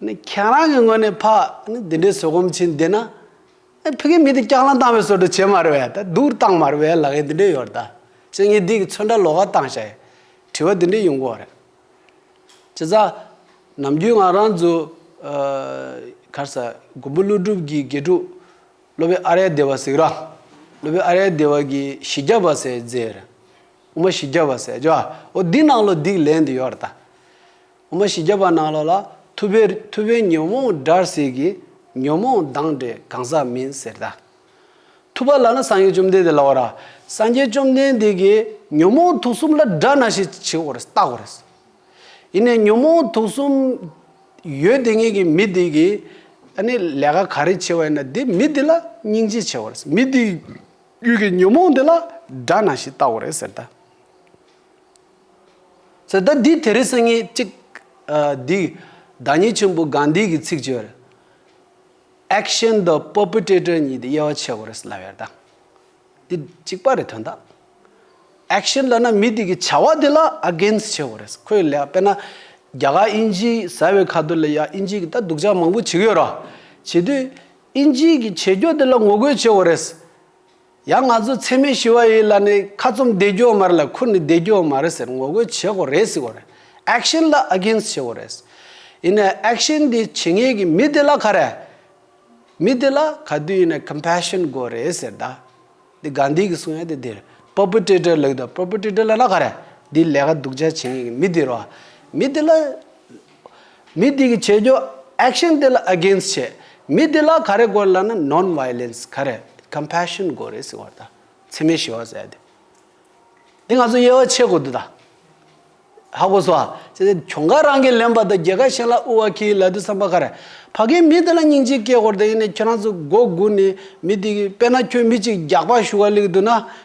ནི་ཁྱེད་རང་གི་ངོས་ནས་ཕ་ནི་འདི་འདྲའི་བཟོད་སྒོམ་བྱེད་འདི་ན། ཨེ་ཕི་གི་མི་དེ་སྐྱག་ལངས་བཏང་བའི་བཟོ་འདྲ་བྱེད་མ་རེད་བས་ད་སྡུག་བཏང་མ་རེད་བས་ལག་ཡེ་འདི་འདྲའི་ཡོར་ད་ཅི་ངེད་སྡིག་གི་ཚོད་འདྲ་ལོ་ག་བཏང་ཤ་ཡེ། དྲི་བ་འདི་འདྲའི་ཡོང་གོ་རེད། ཅི་ཙ། ནམ་རྒྱུན་ང་རང་ཚོ། གར་ས། མགོན་པོ་ཀླུ་སྒྲུབ་ཀྱི་དགེ་ཕྲུག། སློབ་དཔོན་ཨ་རལ་སྡེ་བ་ཟིག་ར། སློབ་དཔོན་ཨ་རལ་སྡེ་བ་གི་བཞི་བརྒྱ་བ་སའི་རྫས་རེད། དབུ་མ་བཞི་བརྒྱ་བ་སའི་རྗེ་བ་འོ་འདི་ནང་ལོ་སྡིག་ལན་འདི་ཡོར་ད། འོ་མ་བཞི་བརྒྱ་པ་ནང་ལོགས་ལ་ཐུ་བེ་ཐུ་བེ་ཉོན་མོངས་དགྲར་ཟེར་གི་ཉོན་མོངས་སྡང་འདྲེ་གང་ཟག་མིན་ཟེར་ད། ཐུ་བ་ལ་ན་སངས་རྒྱས་བཅོམ་ལྡན་འདས་ལ་འོ་ར་སངས་རྒྱས་བཅོམ་ལྡན་འདས་ཀྱིས་ཉོན་མོངས་དུག་གསུམ་ལ་དགྲ་ན་ཞེས་བྱེད་འོ་རེ་བཏགས་འོ་རེ། ཡིན་ནས་ཉོན་མོངས་དུག་གསུམ་ཡོད་དེ་ངེས་ཀྱི་མི་དེ་གིས་ཨ་ནི་ལས་ཀ་ག་རེ་བྱེད་བ་ཡིན་ན་དེ་མི་དེ་ལ་སྙིང་རྗེ་བྱེད་འོ་རེ་མི་དེ་ཡུལ་གྱི་ཉོན་མོངས་དེ་ལ་དགྲ་ན་ཞེས་བཏགས་འོ་རེ་ཟེར་ད། ཟེར། ཟླ་འདིའི་དེ་རིང་སང་ཉིན་གཅིག། འདི་བདག་ཉིད་ཆེན་པོ་གང་འདིའི་གི་ཚིག་བརྗོད་རེད། Action the perpetrator གཉིས་དེ་དབྱེ་བ་ཕྱེ་དགོས་རེད་སླ་བའི་དང། འདི་གཅིག་པ་རེད་དོན་དག། Action ལ་ན་མི་དེ་གི་བྱ་བ་དེ་ལ Against བྱེད་དགོས་རེད། ཁོས་ལས་དཔེར་ན། རྒྱ་གར་ཨིན་ཇི་ཟེར་བའི་ཁ་ཐུར་ལ་ཡ་ཨིན་ཇི་གི་ད་སྡུག་ཅག་མང་པོ་བྱེད་ཀྱི་ཡོད་ར། བྱེད་དུས་ཨིན་ཇི་གི་བྱེད་སྐྱོ་དེ་ལ་ངོ་རྒོལ་བྱེད་དགོས་རེད། ཡང་ང་ཚོ་འཚེ་མེད་ཞི་བ་ཡིས་ལ་ནི་ཁ་བཙུམ་བདེ་སྐྱོང་མ་རེད་ལ་ཁུར་ནི་བདེ་སྐྱོང་མ་རེད་ཟེར་ངོ་རྒོལ་བྱེད་དགོས་རེད་ཟེར་གོ་རེད action ལ against བྱེད་དགོས་རེད། ཡིན་ནའི action དེ་བྱེད་ངེས་ཀྱི་མི་དེ་ལ་ག་རེད། མི་དེ་ལ་ག་དུས་ཡིན་ནའི compassion དགོས་རེད་ཟེར་ད། འདི Gandhi གི་གསུང་ཡ་དེ་དེ་རེད perpetrator ལགས་ད perpetrator ལ་ན་ག་རེད་འདི་ལས་ཀ་སྡུག་ཅག་བྱེད་ངེས་ཀྱི་མི་དེ་རོ། མི་དེ་ལ། མི་དེ་གི་བྱེད་རྒྱུ action དེ་ལ against བྱས། མི་དེ་ལ་ག་རེ་དགོས་ལ་ན non violence ག་རེ compassion དགོས་རེད་ཟེར་བ་ལྟ་འཚེ་མེད་ཞི་བ་ཟེར་ཡ་དེ། དེ་ང་ཚོ་དབྱེ་བ་ཕྱེ་དགོས་འདུག་ད། ཧ་གོ་སོ། ཅེས་དེ་གྱོང་ཁ་རང་གིས་ལེན་པ་དང་རྒྱལ་ཁ་གཞན་ལ་དབུལ་བ་ཁྱེད་ཀྱི་ལད་ཟློས་བསམ་པ་ག་རེ། ཕ་གིའི་མི་དེ་ལ་སྙིང་རྗེ་སྐྱེས་དགོས་རེད་དེ་ཡིན་ནས་ཁྱེད་རང་ཚོས་མགོ་སྒུར་ནས་མི་དེ་གི་དཔེ་ན་ཁྱོད་མི་གཅིག་རྒྱག་པ་ཞུ་བ་ལེགས་འདུག་ན་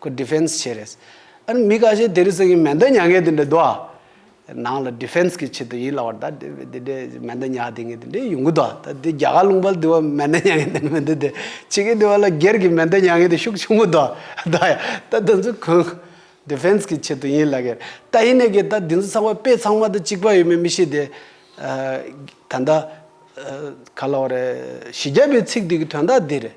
ཁོ Defense བྱས་རེད། ཨ་རི་མི་ག་ཤེད་དེ་རིགས་སེང་གེ་མེ་མདའ་མྱ་ངན་དེ་འདྲ་འདུག་ཨ། ནང་ལ Defense གི་ཆེད་དུ་ཡིན་ལ་བར་ད་དེ་འདྲས་མེ་མདའ་མྱ་དེ་ངན་དེ་འདྲས་ཡོང་གི་འདུག་ཨ། ད་དེ་རྒྱ་གར་ལུང་པར་དུ་བ་མེ་མདའ་མྱ་ངན་དེ་འདྲ་མི་འདུག་དེ། ཕྱི་གི་དུ་བ་ལ་སྒེར་གྱི་མེ་མདའ་མྱ་ངན་དེ་ཤུགས་ཆུང་པོ་འདུག་ཨ། ད་ཡ། ད་དེ་ཚོ་གང། Defense གི་ཆེད་དུ་ཡིན་ལ་ཀེར། ད་ཡིན་ནའི་ཀེར་ད་དེ་ཚོ་ཚང་བ་དཔེ་ཚང་མ་ད་གཅིག་པ་ཡོད་མེད་མི་ཤེས་དེ། ད་ད། ག་ལ་བ་རེད། བཞི་བརྒྱ་པའི་ཚིག་དེ་གི་དོན་དག་འདི་རེད།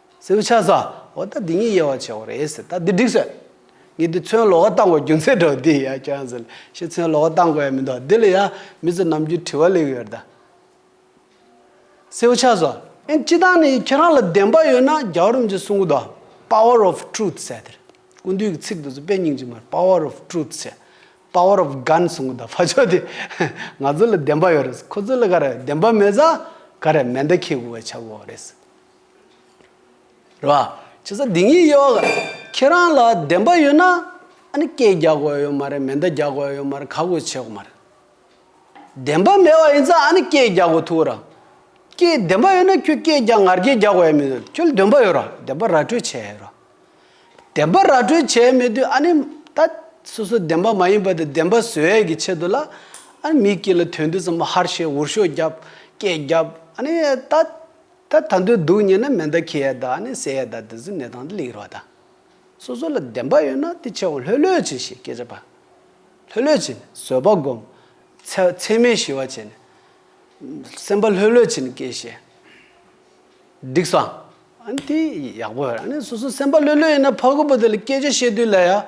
ཟེར་བུ་ཆགས་སོ། འོ་ད་འདི་གཉིས་དབྱེ་བ་ཆེ་བ་རེད་ཟེར་ད་འདི་འགྲིག་ཟེར། ངས་འདི་ཚོན་ལོག་བཏང་བ་རྒྱུ་མཚན་དྲོ་འདི་ཡ་ཁྱོད་ཟེར། ཤི་ཚོན་ལོག་བཏང་དགོས་ཡ་མི་འདུག་འདི་ལ་ཡ། མི་ཚོ་ནམ་རྒྱུན་དྲི་བ་ལེགས་ཡོད་ད། ཟེར་བུ་ཆགས་སོ། ཨེ་སྤྱི་བཏང་ནས་ཁྱེད་རང་ལ་བདེན་པ་ཡོད་ན་རྒྱ་རོམ་གྱི་གསུང་སྐུ་དང། Power of Truth། ཟེར་དེར། སྐུ་མདུན་གྱི་ཚིག་དེ་ཚོ་དཔེ་རྙིང་ཅིག་མར Power of Truth། ཟེར། Power of Gun། གསུང་སྐུ་དང་བ་ཅོ་དེ། ང་ཚོ་ལ་བདེན་པ་ཡོད་རེད་ཟེར་ཁོ་ཚོ་ལ་ག་རེ་བདེན་པ་མེད་ཟ། ག་རེ་མེ་མདའ་ཁྱེར་དགོས་བ་ཆགས་དགོས་བ་རེད་ཟེར། རེད་བ། ཁྱེད་ས་འདི་ཉིད་དབྱེ་བ་ག། ཁྱེད་རང་ལ་བདེན་པ་ཡོད་ན། ཨ་ནི་སྐད་རྒྱག་དགོས་ཡོད་མ་རེད་མེ་མདའ་རྒྱག་དགོས་ཡོད་མ་རེད་ག་དགོས་བྱེད་དགོས་མ་རེད། བདེན་པ་མེད་བ་ཡིན་ཙང་ཨ་ནི་སྐད་རྒྱག་དགོས་ཐུག་གོ་ར། སྐད་བདེན་པ་ཡོད་ན་ཁྱོད་སྐད་རྒྱག་ངར་སྐད་རྒྱག་དགོས་ཡ་མི་དགོས་ཁྱོད་ལ་འདོན་པ་ཡོད་ར་བདེན་པ་ར་སྤྲོད་བྱས་ཡོད་ར། བདེན་པ་ར་སྤྲོད་བྱས་མེད་དུས་ཨ་ནི་ད་སོ་སོ་བདེན་པ་མ་ཡིན་པ་དེ་བདེན་པ་བཟོས་ཡས་ཀྱི་ཆེད་དུ་ལ་ཨ་ནི་མིའི་སྐད་ལ་དོན་དུ་ཙམ་པ་ཧར་བཤད་འུར་ཤོག་རྒྱབ་སྐད་རྒྱབ་ཨ་ནི་ད། ད་ད་འདོད་འདུག་སྙེ་ན་མེ་མདའ་ཁྱི་ཡ་དག་ནས་ཟས་ཡ་དག་འདི་ཚོའི་གནས་སྟངས་འདི་ལེགས་རོགས་དང། སོ་སོ་ལ་བདེན་པ་ཡོད་ན་དེ་ཆེ་བ་ལྷོད་ལྷོད་བྱིན་ཞེས་སྐད་ཆ་པ། ལྷོད་ལྷོད་བྱིན་བཟོད་པ་སྒོམ། ཚེ་ཚད་མེད་ཞི་བ་བྱས་ནས། སེམས་པ་ལྷོད་ལྷོད་བྱིན་སྐད་བཤད། འགྲིགས་སམ། ཨ་ནི་དེ་ཡག་པོ་རེད་ཨ་ནི་སོ་སོ་སེམས་པ་ལྷོད་ལྷོད་ཡིན་ན་ཕ་གོ་པོ་དེ་ལ་སྐད་ཆ་བཤད་དུས་ལ་ཡ།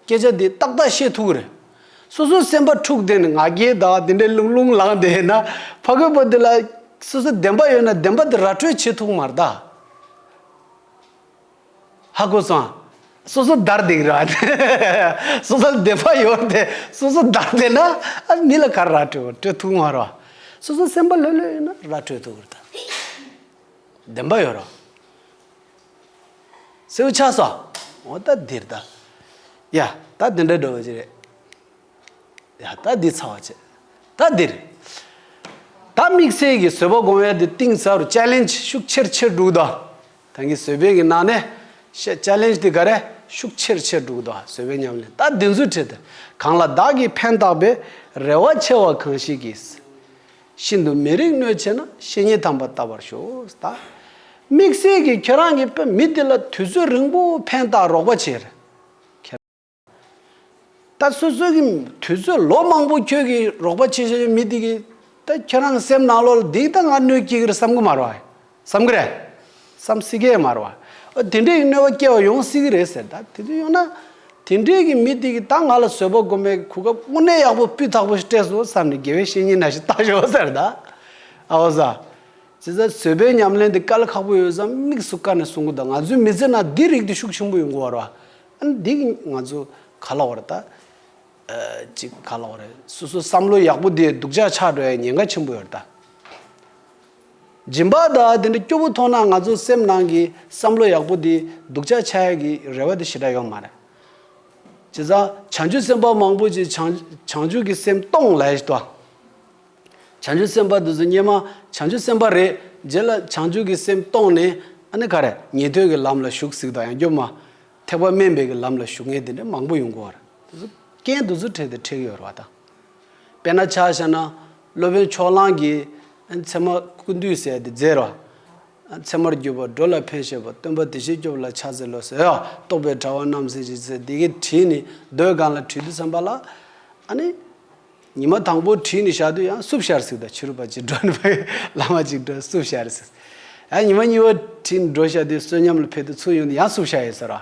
སྐད་ཆ་འདི་ཏག་ཏག་བཤད་ཐུག་གི་རེད། སོ་སོའི་སེམས་པ་འཁྲུག་བསྡད་ནས་ང་རྒྱལ་དང་དེ་འདྲའི་ལུང་ལུང་ལངས་བསྡད་ན། ཕ་རྒོད་པོ་འདི་ལ། སོ་སོའི་བདེན་པ་ཡོད་ན་བདེན་པ་དེ་ར་སྤྲོད་བྱེད་ཐུག་མ་གཏགས། ཧ་གོ་སོང། སོ་སོ་བདར་བསྡད་ཀྱི་རེད་བ། སོ་སོའི་བདེན་པ་ཡོད་དེ་སོ་སོ་བདར་བསྡད་ན། ཨ་མི་ལ་ག་ར་སྤྲོད་བོ་སྤྲོད་ཐུག་མ་རོགས། སོ་སོའི་སེམས་པ་ལྷོད་ལྷོད་ཡོད་ན་ར་སྤྲོད་ཐུག་གི་རེད། བདེན་པ་ཡོད་རོགས། སེའུ་ཆགས་སོ། འོ་ད་འདིར་ལྟ། ཡ། ད་འདི་འདྲ་འགྲོ་བ་ཅི་རེད། ཡ། ད་འདི་ཚར་བ་ཅི། ད་འདིར། ད་དམིགས་བསལ་གྱིས་བཟོད་པ་སྒོམ་ཡ་འདི་གཏིང་ཟབ་རུ challenge ཤུགས་ཆེར་ཆེར་སྒྲུག་དང། ད་གིན་བཟོད་པའི་གིན་ནང་ནས་བཤད challenge དེ་ག་རེ་ཤུགས་ཆེར་ཆེར་སྒྲུག་དང་བཟོད་པའི་ཉམས་ལེན་ད་འདི་འཛུལ་ཁྲིད་དེ་གང་ལ་བདག་གིས་ཕན་བཏགས་པའི་རེ་བ་ཆེ་བ་གང་ཞིག་གིས། ཤིན་ཏུ་མི་རིགས་གནོད་ཆེ་ན་བཤེས་གཉེན་དམ་པ་བལྟ་བར་ཤོག་དམིགས་བསལ་གྱིས་ཁྱོད་རང་གི་པོད་མི་དེ་ལ་དུས་ཚོད་རིང་པོ་ཕན་བཏགས་རོགས་པ་བྱེད། ཁྱེད་རང་ལྟ་སོ་སོ་གི་དུས་ཚོད་ལོ་མང་པོ་ཁྱོད་ཀྱིས་རོགས་པ་བྱེད་བཞིན་ཡོད་མི་དེ་གིས་ད་ཁྱོད་རང་གི་སེམས་ནང་ལོ་ལ་སྡིག་ལྟ་ང་གནོད་ཀྱིས་ཀིར་བསམ་གི་མ་རོགས། བསམ་གི་རེད། བསམ་སྲིད་ཀྱི་མ་རེད། ཨ། དེ་འདྲས་ཀྱི་གནོད་པ་སྐྱེ་བ་ཡོང་སྲིད་ཀྱི་རེད་ཟེར། ད་དེ་ཚོ་ཡོང་ན། དེ་འདྲས་ཀྱི་མི་དེ་གིས་ད་ང་ལ་བཟོད་པ་སྒོམ་པའི་གོ་སྐབས་དངོས་གནས་ཡག་པོ་སྤུས་དག་པོ་ཞིག་སྤྲད་སོང་བསམ་ནས་དགེ་བའི་བཤེས་གཉེན་ན་ཞིག་བཏང་ཞོག་ཟེར། ད་ཨ་བོ་ཟ། ཇི་ཟེར་བཟོད་པའི་ཉམས་ལེན་དེ་དཀའ་ལས་ཁག་པོ་ཡོད་བསམ་དམིགས་སུ་བཀར་ནས་སོང་གི་ད་ང་ཚོའི་མི་ཚེ་ན་འདི་རིགས་དེ་ཤུགས་ཆེན་པོ་ཡོང་གི་བ་རེད། ཨ་ནི་འདི་གིས་ང་ཚོ་ག་ལ་བ་རེད་ད། ཨ། ཅིག་ག་ལ་བ་རེད། སོ་སོའི་བསམ་བློ་ཡག་པོ་དེས་སྡུག་ཅག་ཆགས་འགྲོ་ཡ་ཉེན་ཁ་ཆེན་པོ་ཡོད་རེད་ད། སྦྱིན་པ་དག་དེ་འདྲའི་སྐྱོ་བོ་མཐོང་ན་ང་ཚོ་སེམས་ནང་གི་བསམ་བློ་ཡག་པོ་དེ་སྡུག་ཅག་ཆགས་ཡ་གི་རེ་བ་དེ་ཞེ་དྲག་ཡོད་མ་རེད། བྱས་ཙང་བྱང་ཆུབ་སེམས་དཔའ་མང་པོ་ཅིག་བྱང་བྱང་ཆུབ་ཀྱི་སེམས་སྟོང་ལས་ཞེས་དང། བྱང་ཆུབ་སེམས་དཔའ་དེ་ཚོ་སྙེ་མ་བྱང་ཆུབ་སེམས་དཔའ་རེད་རྗེས་ལ་བྱང་ཆུབ་ཀྱི་སེམས་སྟོང་ནས་ཨ་ནི་ག་རེ་ཉན་ཐོས་ཀྱི་ལམ་ལ་ཞུགས་ཟིག་དང་ཡང་སྐྱོབ་མ་ཐེག་པ་སྨན་པའི་གི་ལམ་ལ་ཞུགས་ངེས་དེ་འདྲའི་མང་པོ་ཡོང་གི་འོ་རེད། དེ་ཚོ་རྐྱེན་དེ་ཚོ་འཕྲད་དེ་འཕྲད་ཀྱི་ཡོད་རེད་བ་དང། དཔེར་ན་ཆ་བྱས་ན། སློབ་དཔོན་ཕྱོགས་གླང་གིས། མཚན་མོ་ཀུན་འདུས་ཟས་འདི་རྫས་རོ། མཚན་མོར་གྱུར་པ་སྒྲོ་ལ་ཕན་བྱེད་པ་སྟོན་པ་དེ་བཞིན་སྐྱོབ་ལ་ཕྱག་འཚལ་ལོ་ཟེར། རྟོགས་པའི་དྲ་བ་རྣམས་ཟེར་གྱིས་ཟེར་དེ་གའི་དྲིས་ནི་རྡོའི་སྒང་ལ་བྲིས་ཏེ་བསམས་པ་ལ། ཨ་ནི། ཉི་མ་དང་པོའི་དྲིས་ནི་བཞག་དུས་ཡང་སྲུབས་ཤར་ཟིག་དང་ཕྱི་རུ་བ་ཅིག་འགྲོ་ནི་བ་ཡི་ལ་མ་ཅིག་འགྲོ་སྲུབས་ཤར་ཟིག། ཡང་ཉི་མ་གཉིས་པའི་དྲིས་ནི་འགྲོ་བཞག་དུས་བསོད་སྙོམས་ལ་ཕེབས་ཏེ་ཚུར་ཡོང་དུས་ཡང་སྲུབས་ཤར་ཡོད་ཟེར་རོ།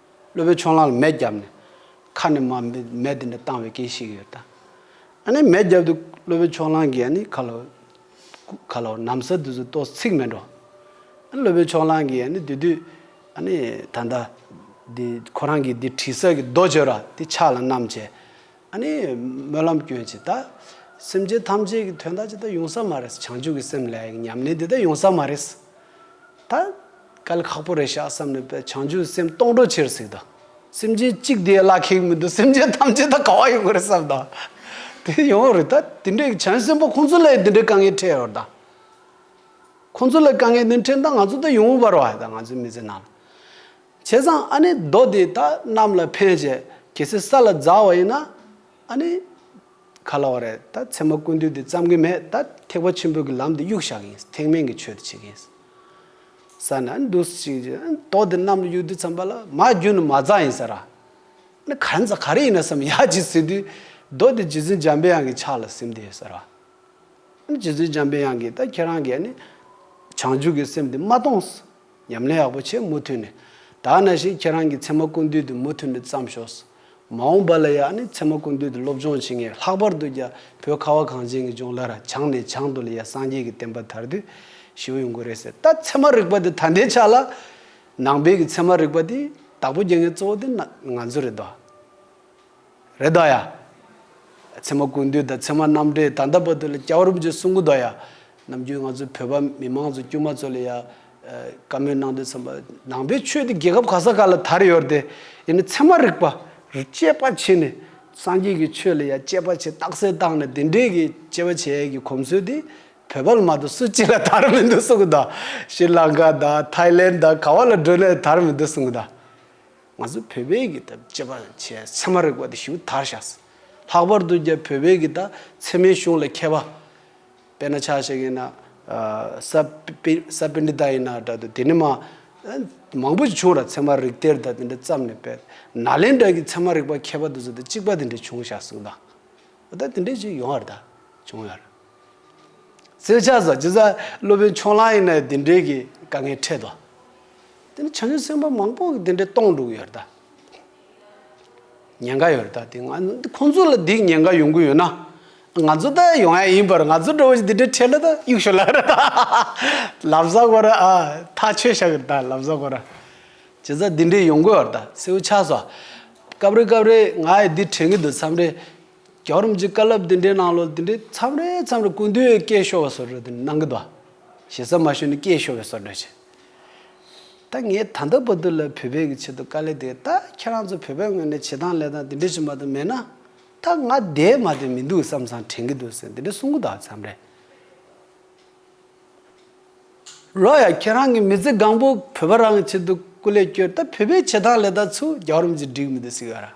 སློབ་དཔོན་ཆོས་གླང་ལ་མེ་བརྒྱབ་ནས། ཁ་ནས་མེ་དེ་འདྲ་བཏང་བའི་སྐད་ཤིག་ཡོད། ཨ་ནི་མེ་བརྒྱབ་དུས་སློབ་དཔོན་ཆོས་གླང་གིས་ཨ་ནི་ཁ་ལོ། ཁ་ལོ། ནམ་ཟ་དུས་སུ་ཏོག་ཚིག་མེད་འགྲོ། ཨ་ནི་སློབ་དཔོན་ཆོས་གླང་གིས་ཨ་ནི་དེ་དུས། ཨ་ནི་ད་ལྟ། འདི་ཁོ་རང་གིས་འདི་དྲི་ཟ་གི་རྡོ་བྱོས་ར་འདི་ཕྱག་ལ་བསྣམས་བྱས། ཨ་ནི་སྨོན་ལམ་སྐྱོན་ཇི་ལྟ། སེམས་ཅན་ཐམས་ཅད་ཀྱི་དོན་དག་ཇི་ལྟ་ཡོང་ས་མ་རེད། བྱང་ཆུབ་ཀྱི་སེམས་ལས་ཉམས་ལེན་འདི་ལྟ་ཡོང་ས་མ་རེད། ད་ག་ལ་ཁག་པོ་རེད་ཤག་བསམ་ནས་པས་བྱང་ཆུབ་ཀྱི་སེམས་སྟོང་གྲོགས་ཆེར་གཟིགས་དང། སེམས་ཅན་གཅིག་དེའི་བླ་ཁེགས་མི་འདུག་སེམས་ཅན་ཐམས་ཅད་ད་ག་བ་ཡོང་གི་རེད་བསམ་དང། དེ་ཡོང་བ་རེད་ད་དེ་འདྲའི་བྱང་ཆུབ་སེམས་དཔའ་ཁོང་ཚོ་ལས་དེ་འདྲའི་དཀའ་ངལ་འཕྲད་ཡོང་དང། ཁོང་ཚོ་ལས་དཀའ་ངལ་འདི་འཕྲད་ད་ང་ཚོ་ད་ཡོང་བར་བ་ད་ང་ཚོའི་མི་ཚེ་ནང། བྱས་ཙང་ཨ་ནི་རྡོ་དེ་དག་གནམ་ལ་འཕེན་བྱས་གལ་སྲིད་ས་ལ་འཛག་བ་ཡིན་ན་ཨ་ནི། ག་ལ་བ་རེད་ད་ཚེར་མ་ཀུན་འདུས་དེ་བརྩམ་གི་མེད་ད་ཐེག་པ་ཆེན་པོའི་གི་ལམ་དེ་གཡུག་བཞག་གི་ཡིན་ཐེག་དམན་གི་ཆོས་དེ་བྱེད་གི་ཡིན། ས་ནི་ཨ་ནི་འདུག་ཅིག་ཅིག་ཨ་ནི་རྡོ་དེ་གནམ་ལ་གཡུག་དུས་བརྩམས་པ་ལ་མ་རྒྱུ་ནི་མ་འཛག་ཡིན་ཟེར། ཨ་ནི་ག་རེ་འཛག་ག་རེ་ཡིན་ན་བསམ་ཡག་ཅིག་ཟེར་དུས་རྡོ་དེ་རྗེ་བཙུན་འཇམ་དཔལ་དབྱངས་ཀྱི་ཕྱག་ལ་སིམ་དེ་ཟེར། ཨ་ནི་རྗེ་བཙུན་འཇམ་དཔལ་དབྱངས་ཀྱིས་ད་ཁྱེད་རང་གི་ཨ་ནི། བྱང་ཆུབ་ཀྱི་སེམས་དེ་མ་གཏོང། ཉམས་ལེན་ཡག་པོ་བྱེད་མུ་མཐུད་ནས། དག་ན་ཞིག་ཁྱེད་རང་གི་ཚེ་མ་ཀུན་འདུས་དེ་མུ་མཐུད་ནས་བརྩམས་ཤོགས། མ་འོངས་པ་ལ་ཡང་ནི་ཚེ་མ་ཀུན་འདུས་དེ་སློབ་སྦྱོང་བྱེད་ངེས་ལྷག་པར་དུ་རྒྱ་བོད་ཁ་བ་གངས་ཅན་གྱི་ལྗོངས་ལ་ར་བྱང་ནས་བྱང་དུ་ལ་ཡ་སངས་རྒྱས་ཀྱི་བསྟན་པ་དར་དུས་ཞིའོ་ཡོང་གི་རེད་ཟེར་ད་ཚད་མ་རིག་པ་དེ་ད་ལྟའི་ཆ་ལ། ནང་པའི་གི་ཚད་མ་རིག་པ་དེ་དྭགས་པོ་རྒྱལ་ངན་གཙོ་བོ་དེ་ང་ཚོ་རེད་དོ། རེ་ད་ཡ། ཚེ་མ་ཀུན་འདུས་དང་ཚེ་མ་རྣམ་འདྲེས་དང་ད་བ་དུ་ལ་སྐྱ་བོ་རུབ་ཀྱི་གསུང་གུ་ད་ཡ། ནམ་རྒྱུན་ང་ཚོའི་བོད་པ་མི་མང་ཚོ་དཀྱུས་མ་ཚོ་ལ་ཡ། བཀའ་མོལ་གནང་དུས་ཚང་མ་ནང་པའི་ཆོས་དེ་རྒྱལ་ཁབ་ག་ས་ག་ལ་དར་ཡོད་དེ། ཡིན་ནས་ཚད་མ་རིག་པ། དཔྱད་པ་བྱེད་ནས། སངས་རྒྱས་ཀྱི་ཆོས་ལ་ཡ་དཔྱད་པ་བྱེད་རྟགས་གསལ་བཏང་ནས་དེ་འདྲའི་གི་དཔྱད་པ་བྱེད་ཡས་ཀྱི་གོམས་སྲོལ་དེ། བོད་པ་ལ་མ་གཏོགས་སུ་གཅིག་ལ་དར་མི་འདུག་གསུང་གུ་ད། ཤྲི་ལང་ཀ་ད། ཐའི་ལན་ད་ག་བ་ལ་འགྲོ་ནས་དར་མི་འདུག་གསུང་གུ་ད། ང་ཚོ་བོད་པའི་གི་ད་བཅད་པ་བྱས་ཚད་མ་རེག་པ་དེ་ཞུ་དར་བཞག། ལྷག་པར་དུ་རྒྱ་བོད་པའི་གི་ད་ཚད་མའི་གཞུང་ལ་མཁས་པ། དཔེར་ན་ཆ་ཞིག་ཡིན་ན་ས་པི་ས་པི་ནི་ད་ཡིན་ན་འདྲ་དུ་དེ་ནི་མ། མང་པོ་ཞིག་བྱུང་ར་ཚད་མ་རིག་དེར་ད་དེ་འདྲ་བརྩམས་ནས་པད་ན་ལེན་འདྲ་གི་ཚད་མ་རིག་པ་མཁས་པ་དུ་ཚོད་ད་གཅིག་པ་དེ་འདྲ་བྱུང་བཞག་གསུངས་ད། འོ་ད་དེ་འདྲ་ཞིག་ཡོང་ཡར་ད་བྱུང་ཡར། རྩེད་ཆ་བཟའ་རྒྱུ་བཟའ། སློབ་དཔོན་ཕྱོགས་གླང་ཡིན་ན་ཡང་དེ་འདྲའི་གི་དཀའ་ངལ་འཕྲད་དོ། དེ་ནི་བྱང་ཆུབ་སེམས་དཔའ་མང་པོ་གི་དེ་འདྲའི་སྟོང་འདུག་ཡོད་ད། ཉེན་ཁ་ཡོད་ད་དེ་ང་འདི་ཁོང་ཚོ་ལ་འདིའི་ཉེན་ཁ་ཡོང་གི་ཡོད་ན། ང་ཚོ་ད་ཡོང་ཡ་ཡིན་པར་ང་ཚོ་འདྲ་བོ་ཞིག་དེ་འདྲའི་འཕྲད་ལ་ད་གཡུག་ཞོར་ལ་ར་ད། ལབ་བཟའ་གོ་ར་ཨ། ཐག་ཆོད་ཤག་གི་ད་ལབ་བཟའ་གོ་ར། བྱས་ཙང་དེ་འདྲའི་ཡོང་གི་ཡོད་ད་སེའུ་ཆགས་སོ། སྐབས་རེ་སྐབས་རེ་ང་ཡི་འདི་དྲན་གི་འདུག་མཚམས་རེ། རྒྱ་རིམ་གྱི་བཀའ་སློབ་འདི་འདྲའི་ནང་ལོ་འདི་འདྲའི་མཚམས་རེ་མཚམས་རེ་ཀུན་འདུས་སྐད་ཤོར་བ་སོགས་རེ་འདི་གནང་གི་འདུག་ཞེ་ས་མ་ཞུས་ནས་སྐད་ཤོར་བའི་སོར་འདྲ་བྱས། ད་ངས་ད་ལྟ་བར་དུ་ལ་བོད་པའི་གི་ཆེད་དུ་དཀའ་ལས་དེ་ད་ཁྱེད་རང་ཚོ་བོད་པའི་ངོས་ནས་བྱེད་སྟངས་ལས་སྟངས་འདི་འདྲ་ཞིག་མ་གཏོགས་མེད་ན། ད་ང་འདས་མ་འདས་མི་འདུག་བསམ་བསམ་དྲན་གི་འདུག་ཟེར་འདི་འདྲ་གསུང་གི་འདུག་མཚམས་རེ། ལོ་ཡ་ཁྱེད་རང་གི་མི་ཚེ་གང་པོ་བོད་པ་རང་གི་ཆེད་དུ་སྐུ་ལས་བསྐྱོད་ད་བོད་པའི་བྱེད་སྟངས་ལས་སྟངས་ཚུ་རྒྱ་རིམ་གྱི་འགྲིག་མི་འདུག་ཟེར་གི་ཡོད་ར།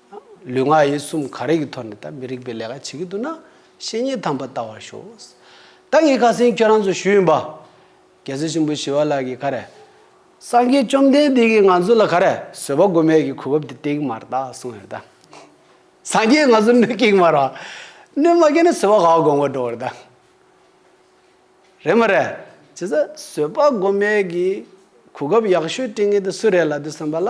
ལུས་ངག་ཡིད་གསུམ་ག་རེ་གི་ཐོག་ནས་ད་མི་རིགས་པའི་ལས་ཀ་བྱེད་ཀྱི་འདུག་ན་བཤེས་གཉེན་དམ་པ་བལྟ་བར་ཤོག། ད་ངས་ཁ་སེང་ཁྱོད་རང་ཚོ་ཞུས་ཡིན་པ། རྒྱལ་སྲས་ཆེན་པོ་ཞི་བ་ལགས་ཀྱིས་ག་རེ། སངས་རྒྱས་བཅོམ་ལྡན་འདས་ཀྱིས་ང་ཚོ་ལ་ག་རེ་བཟོད་པ་དགོས་མེད་ཀྱི་གོ་སྐབས་དེ་ཏིག་མར་བཏགས་གསུངས་ཡོད་ད། སངས་རྒྱས་ང་ཚོ་སྣོད་ཀྱིག་མར་བ། སྣོད་མ་ཀྱིག་ན་བཟོད་པ་ག་བ་དགོས་མཁོ་འགྲོ་བར་ད། རེད་མ་རེད། བྱས་ཙང་བཟོད་པ་དགོས་མེད་ཀྱི་གོ་སྐབས་ཡག་ཤོས་སྤྲིངས་ངེས་དེ་སུ་རེད་ལ་དེ་སེམས་པ་ལ།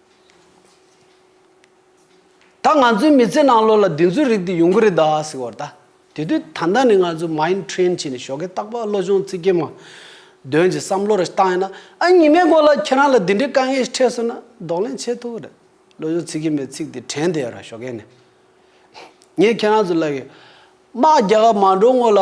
ད་ང་ཚོའི་མི་ཚེ་ནང་བློ་ལ་བདེན་རྫུན་རིག་དུས་ཡོང་གི་རེད་ད་ཟེར་བར་ད། དེ་དུས་ད་ལྟ་ནས་ང་ཚོ Mind Train བྱས་ནས་ཞོགས་ཀྱི་སྟག་ལྤགས་བློ་སྦྱོང་ཚིག་གི་མ། དོན་གྱི་བསམ་བློ་རེ་བཏང་ཡོད་ན་ཨ་ཉི་མའི་སྐོར་ལ་ཁྱེད་རང་ལ་འདི་འདྲའི་དཀའ་ངལ་ཞིག་འཕྲད་སོང་ན་ལྡོག་ལན་བྱེད་ཐུབ་ཀྱི་རེད། བློ་སྦྱོང་ཚིག་གི་མའི་ཚིག་དེ་དྲན་བསྡད་ཡོད་ར་ཞོགས་ཀྱི་ནི། ངས་ཁྱེད་རང་ཚོ་ལ་ཡོད། དམག་རྒྱག་ག་མ་འགྲོ་སྔོན་ལ།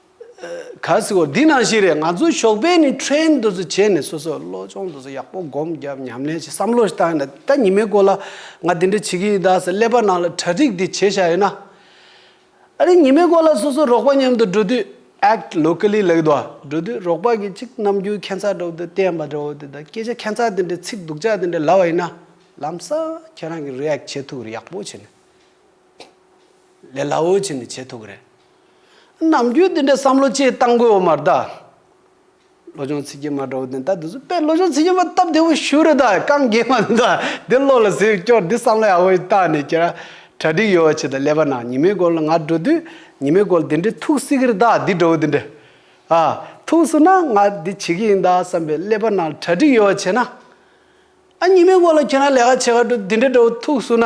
གཱས་གོ་འདི་ནང་བཞིན་རེད་ང་ཚོ་ཞོགས་པའི་ནི་ཁྲེན་ཏུ་ཟུ་བྱས་ནས་སོ་སོ་བློ་སྦྱོང་དུ་ཟུ་ཡག་པོ་སྒོམ་རྒྱབ་ཉམས་ལེན་བྱེད་བསམ་བློ་ཞིག་བཏང་ཡོད་ད་ཉི་མའི་སྐོར་ལ་ང་འདི་འདྲ་བྱེད་ཀྱི་ཡོད་ད་ཟེར་ཀླད་པ་ནང་ལ་གྲ་སྒྲིག་དེ་བྱེད་བཞག་ཡོད་ན། ཨ་རི་ཉི་མའི་སྐོར་ལ་སོ་སོ་རོགས་པ་མཉམ་དུ་འགྲོ་དུས act locally like འགྲོ་དུས་རོགས་པ་གིས་ཅིག་རྣམ་འགྱུར་ཁྱད་མཚར་འདྲ་བོ་དེ་བསྟན་པ་འདྲ་བོ་དེ་ད་སྐད་ཆ་ཁྱད་མཚར་དེ་འདྲ་ཚིག་སྡུག་ཅག་དེ་འདྲ་ལབ་པ་ཡིན་ན་ལམ་སང་ཁྱེད་རང་གིས react བྱེད་ཐུབ་ཀྱི་རེད་ཡག་པོ་བྱེད་ནས་ལས་སླ་བོ་བྱེད་ནས་བྱེད་ཐུབ་ཀྱི་རེད། ནམ་རྒྱུན་འདི་འདྲའི་བསམ་བློ་སྤྱིར་བཏང་དགོས་བ་མ་རེད་དཱ། བློ་སྦྱོང་ཚིག་རྒྱན་མ་འདྲ་བོ་དེ་འདྲ་འདུག་ཟེར་པས་བློ་སྦྱོང་ཚིག་རྒྱན་མ་སྟབས་བདེ་བོ་ཞུ་རེད་དཱ་རྐང་རྒྱན་མ་འདུག་དཱ་འདི་བློ་ལ་ཟེར་སྐྱོར་འདི་བསམ་བློ་ཡག་པོ་ཞིག་བཏང་ནས་ཁྱེད་རང་གྲ་སྒྲིག་ཡོད་བ་བྱེད་དཱ་ཀླད་པ་ནང་ཉི་མའི་མགོ་ལ་ང་འགྲོ་དུས་ཉི་མའི་མགོ་ལ་འདི་འདྲའི་ཐུགས་གསིག་གི་རེད་དཱ་འདི་འགྲོ་བ་འདི་འདྲ་ཨ། ཐུགས་གསིག་ན་ང་འདི་བྱེད་ཀྱི་ཡིན་དཱ་བསམ་པའི་ཀླད་པ་ནང་གྲ་སྒྲིག་ཡོད་བ་བྱེད་ན། ཨ་ཉི་མའི་མགོ་ལ་ཁྱེད་རང་ལས་ཀ་བྱེད་ག་འགྲོ་འདི་འདྲ་འགྲོ་བ་ཐུགས་གསུག་ན།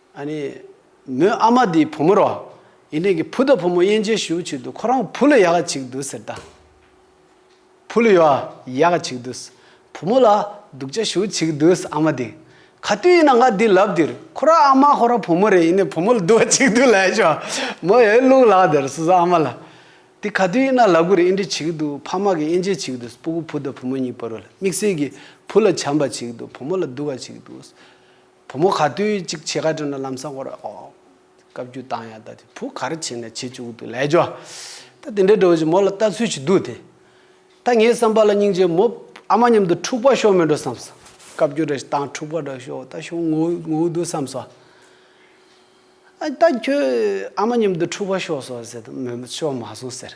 ཨ་ནི། མོའི་ཨ་མ་འདིའི་བུ་མོ་རོ། ཡིན། དེང་གི་བུ་དང་བུ་མོ་དབྱེ་འབྱེད་ཞུ་ཆོད་དུ་ཁོ་རང་བུ་ལ་ཡག་ག་གཅིག་འདུག་ཟེར་ད། བུ་ལ་ཡག་ག་གཅིག་འདུག། བུ་མོ་ལ་སྡུག་ཅག་ཞུ་གཅིག་འདུག་ཨ་མ་དེ། ག་དུས་ཡིན་ན་ང་འདི་ལབ་འདིར་ཁོ་རང་ཨ་མ་ཁོ་རང་བུ་མོ་རེད་ཡིན་ནའི་བུ་མོ་ལ་སྡུག་ག་གཅིག་འདུག་ལས་བྱུང། མོ་ཡོད་ལུག་ལག་དེར་སོ་སོ་ཨ་མ་ལ། འདི་ག་དུས་ཡིན་ན་ལག་གུར་དབྱེ་འབྲི་བྱེད་ཀྱི་འདུག་ཕ་མ་གི་དབྱེ་འབྱེད་བྱེད་ཀྱི་འདུག་སྤུ་གུ་བུ་དང་བུ་མོ་གཉིས་པར་རོ་ལ་དམིགས་བསལ་གྱིས་བུ་ལ་བྱམས་པ་བྱེད་ཀྱི་འདུག་བུ་མོ་ལ་སྡུག་ག་གཅིག་འདུག། བུ་མོ་ག་དུས་གཅིག་ཕྱེད་ཀ་དྲུང་ན་ལམ་སང་སྐོར་ཨོ། བཀའ་བརྒྱུད་བཏང་ཡ་ད་དེ་བུ་ག་རེ་བྱེད་ནས་བྱེད་བཅུག་འདུག་ལས་ཀྱོ། ད་དེ་འདྲའི་འགྲོ་བཞིན་མོ་ལ་ལྟ་ཚུལ་ཞིག་འདུག་དེ། ད་ངའི་བསམ་པ་ལ་སྙིང་རྗེ་མོ་ཨ་མ་མཉམ་དུ་འཁྲུག་པ་ཤོར་མི་འགྲོ་བསམ་སོང། བཀའ་བརྒྱུད་རེ་བཏང་འཁྲུག་པ་འདྲ་ཤོར་ད་ཤོར་ངོ་ངོ་འདུག་བསམ་སོང། ཨ་ད་ཁྱོད་ཨ་མ་མཉམ་དུ་འཁྲུག་པ་ཤོར་སོང་ཟེར་དུས་མོས་ཤོར་མ་སོང་ཟེར།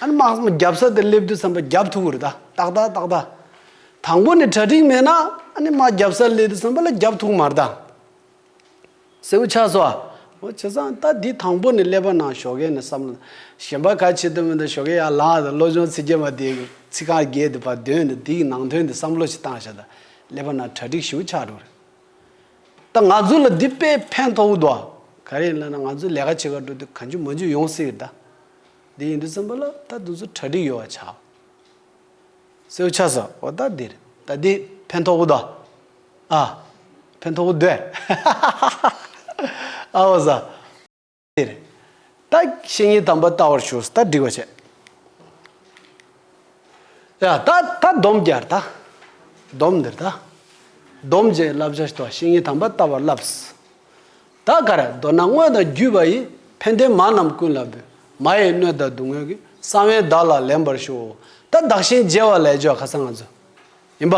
ཨ་ནི་མ་གསུངས་རྒྱབ་ས་དེར་སླེབས་དུས་བསམ་པ་རྒྱབ་ཐུག་གུར་ཏག་ཏག་ཏག་ཏག་ཏག། དང་པོ་ནས་གྲ་སྒྲིག་མེད་ན་ཨ་ནི་མ་རྒྱབ་སར་སླེབས་དུས་བསམ་པ་ལ་རྒྱབ་ཐུག་མར་ལྡང། སེའུ་ཆགས་སོ། འོ་བྱས་ཙང་ད་འདི་དང་པོ་ནས་སླེབས་པ་ན་ཞོ་གས་ནས་བསམ་བློ། གཞན་པ་ག་བྱེད་དུ་མི་འདུག་ཞོ་གས་ཡར་ལངས་ཏེ་བློ་སྦྱོང་ཚིག་བརྒྱད་མ་དེ་ཚིག་རྐང་བརྒྱད་དེ་བར་འདོན་ཏེ་འདིའི་ནང་དོན་དེ་བསམ་བློ་ཞིག་བཏང་བཞག་ད་སླེབས་པ་ན་གྲ་སྒྲིག་ཞེའུ་ཆགས་འགྲོ་རེད། ད་ང་ཚོ་ལ་འདི་དཔེ་ཕན་ཐོགས་འོས་འདུག་ཨ། ག་རེ་ཡིན་ལབ་ན་ང་ཚོས་ལས་ཀ་བྱེད་ཁར་འགྲོ་དུས་ག་འཇུ་མ་འཇུ་ཡོང་སྲིད་རེད་ད། འདི་ཡིན་དུ་སེམས་པ་ལ་ད་དུ་ཚུར་གྲ་སྒྲིག་ཡོད་བ་བྱའོ། སེའུ་ཆ་ཟ་འོ་ད་འདིར་ད་འདི་ཕན་ཐོགས་པོ་དང། ཨ། ཕན་ཐོགས་པོ་འདོད། ཨ་འོ་ཟ། འདིར་ད་བཤེས་གཉེན་དམ་པ་བལྟ་བར་ཞུགས་ད་སྒྲིག་པ་བྱས། ཡ་ད་ད་སྡོམ་བརྒྱར་ད། སྡོམ་འདིར་ད། སྡོམ་བྱས་བསླབ་བྱ་བྱས་ཐོག་བཤེས་གཉེན་དམ་པ་བལྟ་བར་བསླབས། བདག་གར་མདོར་ན་དངོས་དང་བརྒྱུད་པ་ཡི། ཕན་བདེ་མ་རྣམས་ཀུན་ལ་འབུལ། མ་ཡི་སྣོད་དང་སྡུག་བསྔལ་གྱི། གསང་བའི་བདག་ལ་ལེན་པར་ཞུ། ད་བདག་གཞན་བརྗེ་བ་ལས་ཆོག་ག་ས་ང་ཚོ། ཡིན་པ།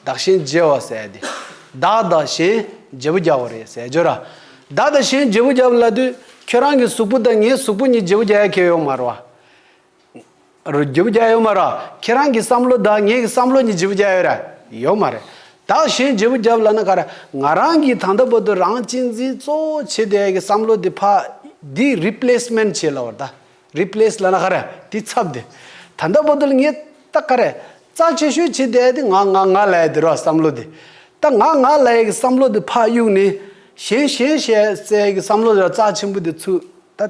བདག་གཞན་བརྗེ་བ་ཟད་དེ། བདག་དང་གཞན། བརྗེ་པོ་རྒྱག་བ་རེད་ཟེར་རྒྱུ་ར། བདག་དང་གཞན་བརྗེ་པོ་རྒྱབ་ལ་དུས། ཁྱོད་རང་གི་གཟུགས་པོ་དང་ངའི་གཟུགས་པོ་གཉིས་བརྗེ་པོ་རྒྱག་ཡ་ཁྱེད་ཡོག་མར་བ། རྗེ་བོ་བརྒྱ་ཡོད་མ་རེད། ཁྱེད་རང་གི་བསམ་བློ་བདག་ངེད་ཀྱི་བསམ་བློ་ཉིད་རྗེ་བོ་བརྒྱ་ཡོད་རེད། ཡོད་མ་རེད། བདག་གཞན་རྗེ་བོ་བརྒྱ་ལབ་ན་ག་རེད། ང་རང་གིས་ད་ལྟ་བར་དུ་རང་གཅེས་འཛིན་གཙོ་བོ་བྱས་ཏེ་ཡ་གི་བསམ་བློ་འདི་ཕ། འདི Replacement བྱེད་ལབ་བར་ད། Replace ལབ་ན་ག་རེད། དེ་ཚབ་དེ། ད་ལྟ་བར་དུ་ལ་ངས་ད་ག་རེད། རྩ་ཆེ་ཤོས་བྱས་ཏེ་ཡ་དེ་ང་ང་ང་ལ་ཡ་དེ་རོགས་བསམ་བློ་འདི། ད་ང་ང་ལ་ཡ་གི་བསམ་བློ་འདི་ཕ་གཡུག་ནས། གཞན་གཞན་བྱས་ཚེ་ཡ་གི་བསམ་བློ་རྩ་ཆེན་པོ་འདི་ཚུད་ད།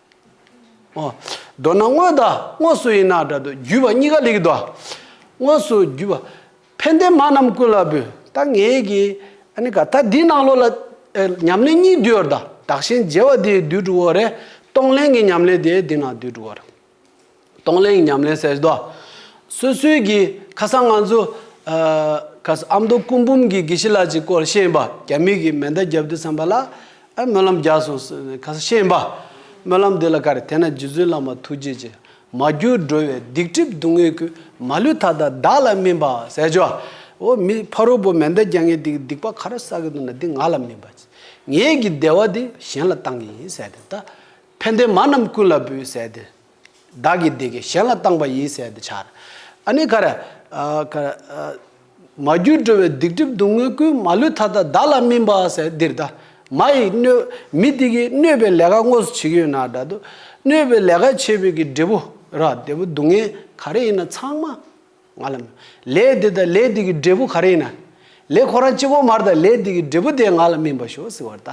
མདོར་ན་དངོས་དང་དངོས་སུ་ཡིན་ན་སྒྲ་དང་བརྒྱུད་པ་གཉིས་ཀ་ལེགས། དངོས་སུ་བརྒྱུད་པ། ཕན་བདེ་མ་རྣམས་ཀུན་ལ་འབུལ། ད་ངེད་ཀྱི། ཨ་ནི་ག་ད་འདི་ནང་ལོགས་ལ། ཉམས་ལེན་གཉིས་བསྡུས་བར་དང། བདག་གཞན་བརྗེ་བ་དེའི་བསྡུས་གྲུབ་བོ་རེ། གཏོང་ལེན་གྱི་ཉམས་ལེན་དེ་འདི་ནང་བསྡུས་གྲུབ་བོ་རེ། གཏོང་ལེན་ཉམས་ལེན་གསལ་རྡོ། སོ་སོའི་གི། ཁ་སང་ང་ཚོ། ཨ་མདོ་སྐུ་འབུམ་གི་དགེ་བཤེས་ལགས་ཀྱི་སྐོར་བཤད་པ་རྒྱ་མིས་གི་མེ་མདའ་བརྒྱབ་འདུག་བསམ་པ་ལ། ཨ་སྨོན་ལམ་རྒྱག་སོང་ཟེར་ནས་ཁ་སང་བཤད་པ། སྨོན་ལམ་འདི་ལ་ཀ་རེ་དེ་ན་རྗེ་བཙུན་བླ་མ་ཐུགས་རྗེ་ཆེ། མ་གྱུར་སྒྲོལ་བའི་སྡིག་སྒྲིབ་སྡུག་བསྔལ་ཀུན། མ་ལུས་མཐའ་དག་བདག་ལ་སྨིན་པ་གསལ། ཇོ་བོ་མི་ཕ་རོལ་པོ་མེ་མདའ་རྒྱག་མཁན་དེ་གི་སྡིག་པ་ག་རེ་བསགས་ཀྱི་འདུག་ན་དེ་ང་ལ་སྨིན་པ་ཆེ། ངས་གི་བདེ་བ་དེ་གཞན་ལ་བཏང་གི་ཡིན་གསལ་ཏེ། ད་ཕན་བདེ་མ་རྣམས་ཀུན་ལ་འབུལ་གསལ་ཏེ། བདག་གིས་འདི་སྐད་གཞན་ལ་བཏང་བ་ཡིན་ཟེར་ཏེ་འཕྱར། ཨ་ནི་ཁར། ཁར། མ་རྒྱུད་སྒྲོལ་བའི་སྡིག་སྒྲིབ་སྡུག་བསྔལ་ཀུན་མ་ལུས་མཐའ་དག་བདག་ལ་སྨིན་པ་ཟེར་འདིར་བདག། མ་ཡི་གནོད། མི་དེ་གིས་གནོད་པའི་ལས་ཀ་དངོས་སུ་བྱེད་ཀྱི་ཡོད་ན་དགྲ་དུ། གནོད་པའི་ལས་ཀ་བྱེད་པའི་གི་འབྲས་བུ། ར་འདས་པོ་སྡུག་བསྔལ་ག་རེ་ཡིན་ན་ཚང་མ། ང་ལ། ལས་འདི་དང་ལས་འདི་གི་འབྲས་བུ་ག་རེ་ཡིན་ན། ལས་ཁོ་རང་གཅིག་གོ་མར་ད་ལས་འདི་གི་འབྲས་བུ་དེ་ང་ལ་སྨིན་པར་ཤོག་ཟེར་བར་ལྟ།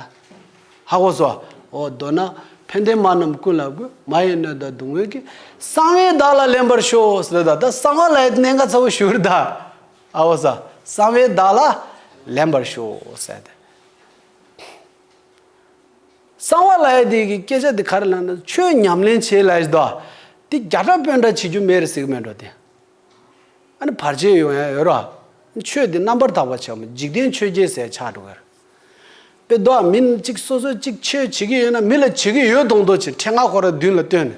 ཧ་གོ་སོ། འོ་མདོར་ན། ཕན་བདེ་མ་རྣམས་ཀུན་ལ་གོ། མ་ཡི་སྣོད་དང་སྡུག་བསྔལ་གྱི། གསང་བའི་བདག་ལ་ལེན་པར་ཤོག་ཟེར་བར་ལྟ་ད་གསང་བ་ལ་གནས་འགའ་ཚ་བོ་ཞུ་བར་གདའ། ཧ་གོ་སོ། གསང་བའི་བདག་ལ། ལེན་པར་ཤོག་ཟེར་ཏེ། གསང་བ་ལྷའི་དེ་གི་སྐད་ཆ་དེ་ག་རེ་ལ་ན་ཆོས་ཉམས་ལེན་བྱེད་ལ་ཡོད་དོ། དེ་བརྒྱ་ཕྲག་དཔོན་འདྲ་བྱེད་རྒྱུ་མེད་རེད་ཟེར་གི་མེད་འགྲོ་དེ། ཨ་ནི་བར་ཆད་ཡོང་ཡང་ཡོད་རོ། ཆོས་དེ་རྣམ་པར་དག་པར་བྱ་མོ་འཇིག་རྟེན་ཆོས་བརྒྱད་ཟད་ཆགས་འགྲོ་གི་རེད། པའི་མདོ་ཨ་མི་གཅིག་སོ་སོས་གཅིག་ཆོས་བྱེད་ཀྱི་ཡོད་ན་མི་ལ་བྱེད་ཀྱི་ཡོད་གདོང་མདོག་བྱེད་འཕྲལ་ང་ཁོ་ར་མདུན་ལ་བཏོན་ནས་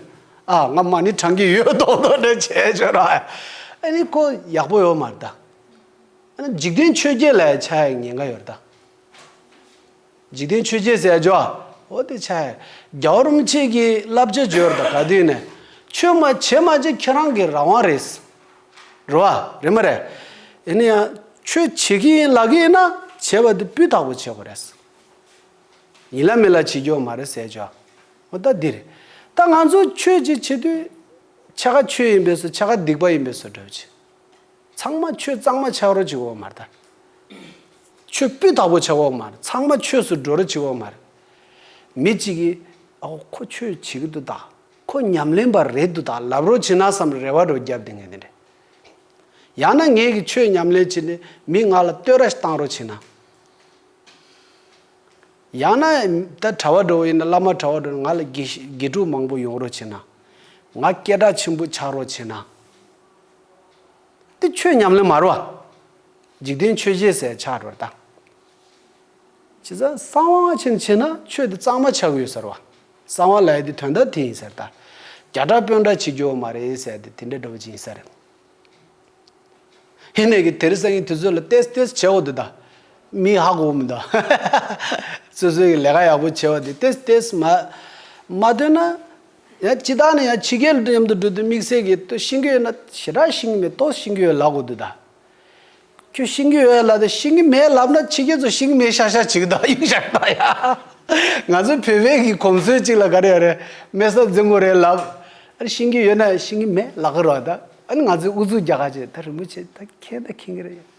ཨ་ང་མ་ནི་དྲང་གི་ཡོད་གདོང་མདོག་འདྲ་བྱས་བྱོས་ར། ཨ་ནི་ཁོ་ཡག་པོ་ཡོད་མ་རེད་ད། ཨ་ནི་འཇིག་རྟེན་ཆོས་བརྒྱད་ལ་ཡང་ཆ་ཡང་ཉེན་ཁ་ཡོད་རེད་ད། འཇིག་རྟེན་ཆོས་རྒྱལ་ཟས་བརྗོད་ཨོ་དེ་ཆ། རྒྱ་བོར་རུམ་ཆེན་གྱིས་བསླབ་བྱ་བཅོལ་དང་ག་དུས་ནས། ཆོས་མ་བྱེད་མ་བྱེད་ཁྱེད་རང་གི་རང་དབང་རེད། རེད་བ། རེད་མ་རེད། ཡིན་ན་ཡང་ཆོས་བྱེད་ཀྱི་ཡིན་ལབ་ཀྱི་ཡིན་ན་བྱེད་པ་དེ་སྤུས་དག་པོ་བྱེད་དགོས་རེད། ཡིན་ལ་མིན་ལ་བྱེད་རྒྱུ་མ་རེད་ཟས་བརྗོད་ཨོ་ད་འདི་རེད། ད་ང་ཚོ་ཆོས་ཅིག་བྱེད་དུས། ཆ་ག་ཆོས་ཡིན་པས་སོ་ཆ་ག་སྡིག་པ་ཡིན་པས་སོ་བསྒྲུབ་བྱེད། ཚང་མ་ཆོས་གཙང་མ་ཆགས་རོགས་ཅིག་འོ་མ་ད། ཆོས་སྤུས་དག་པོ་བྱ་འོག་མར་ཚང་མ་ཆོས་སུ་འགྲོ་རུ་བྱེད་འོག་མར། མི་གཅིག་གིས། ཨའོ་ཁོ་ཆོས་བྱེད་ཀྱི་འདུག་ད། ཁོ་ཉམས་ལེན་པ་རེད་འདུག་ད་ལབ་རོགས་བྱེད་ན་བསམ་རེ་བ་རོ་བརྒྱབ་དེ་ངེས་དེ་འདྲས། ཡང་ན་ངེད་ཀྱིས་ཆོས་ཉམས་ལེན་བྱེད་ནས་མི་ང་ལ་བསྟོད་ར་བཏང་རོགས་བྱེད་ན། ཡང་ན་ད་གྲྭ་བ་འགྲོ་བ་ཡིན་ན་བླ་མ་གྲྭ་བ་འགྲོ་ནས་ང་ལ་དགེ་ཕྲུག་མང་པོ་ཡོང་རོགས་བྱེད་ན། ང་སྐད་གྲགས་ཆེན་པོ་ཆགས་རོགས་བྱེད་ན། ཏི་ཆོས་ཉམས་ལེན་མ་རུ་བ། འཇིག་རྟེན་ཆོས་བཞི་ཟད་ཆགས་སྒྲོ་བཏགས། ཇི་ལྟར་གསང་བ་སྔ་ཕྱིར་མཆིས་ན་ཆོས་འདི་གཙང་མ་ཆགས་ཡོད་ཟེར་བ། གསང་བ་ལས་འདི་དོན་དག་དེ་ཡིན་ཟེར། བདག་རྒྱ་དྲག་དཔོན་འདྲ་ཆིག་རྒྱོ་མ་རེད་ཟེར་ཏེ་དེ་འདྲའི་སྒྲོ་བ་ཅི་ཡིན་ཟེར། ཧི་ནས་ཀྱི་དེར་སེང་གི་དུས་ཚོད་ལ་བལྟས་བལྟས་བྱེད་འོ་དེ་དང། མིའི་ཧ་གོ་བོ་མི་འདུག། སོ་སོའི་ལས་ཀ་ཡག་པོ་བྱེད་འོ་དེ་བལྟས་བལྟས་མ། མ་འདོད་ན། ཡང་ཅི་བདག་ནི་ཡང་ཕྱི་རྒྱལ་དུ་མཉམ་དུ་འགྲོ་དུས་དམིགས་བསལ་གྱིས་སྟོད་ཤིང་གི་ན་ཞེ་དྲག་ཤིང་གི་མེ་ཏོག་ཤིང་གི་འོད་ལགས་གོ་དུས་བདག། ཁྱོད་ཤིང་གི་འོད་ལ་དེ་ཤིང་གི་མེ་ལབ་ན་ཕྱི་རྒྱལ་དུ་ཤིང་གི་མེ་ཤར་ཤར་བྱེད་གི་འདུག་གཡུག་ཤར་གདའ་ཡ། ང་ཚོའི་བོད་པའི་གི་གོམས་སྲོལ་གཅིག་ལ་ག་རེ་ཡོད་རེད་མེ་སོགས་རྫིང་བུ་རེ་ལབ། ཨ་རི་ཤིང་གི་ཡོད་ན་ཤིང་གི་མེ་ལག་གི་རོགས་གདའ། ཨ་ནི་ང་ཚོའི་ཨུ་ཚུགས་རྒྱག་ཁ་ཅིག་ད་རིན་པོ་ཆེ་ད་ཁེངས་ད་ཁེངས་གི་རེད།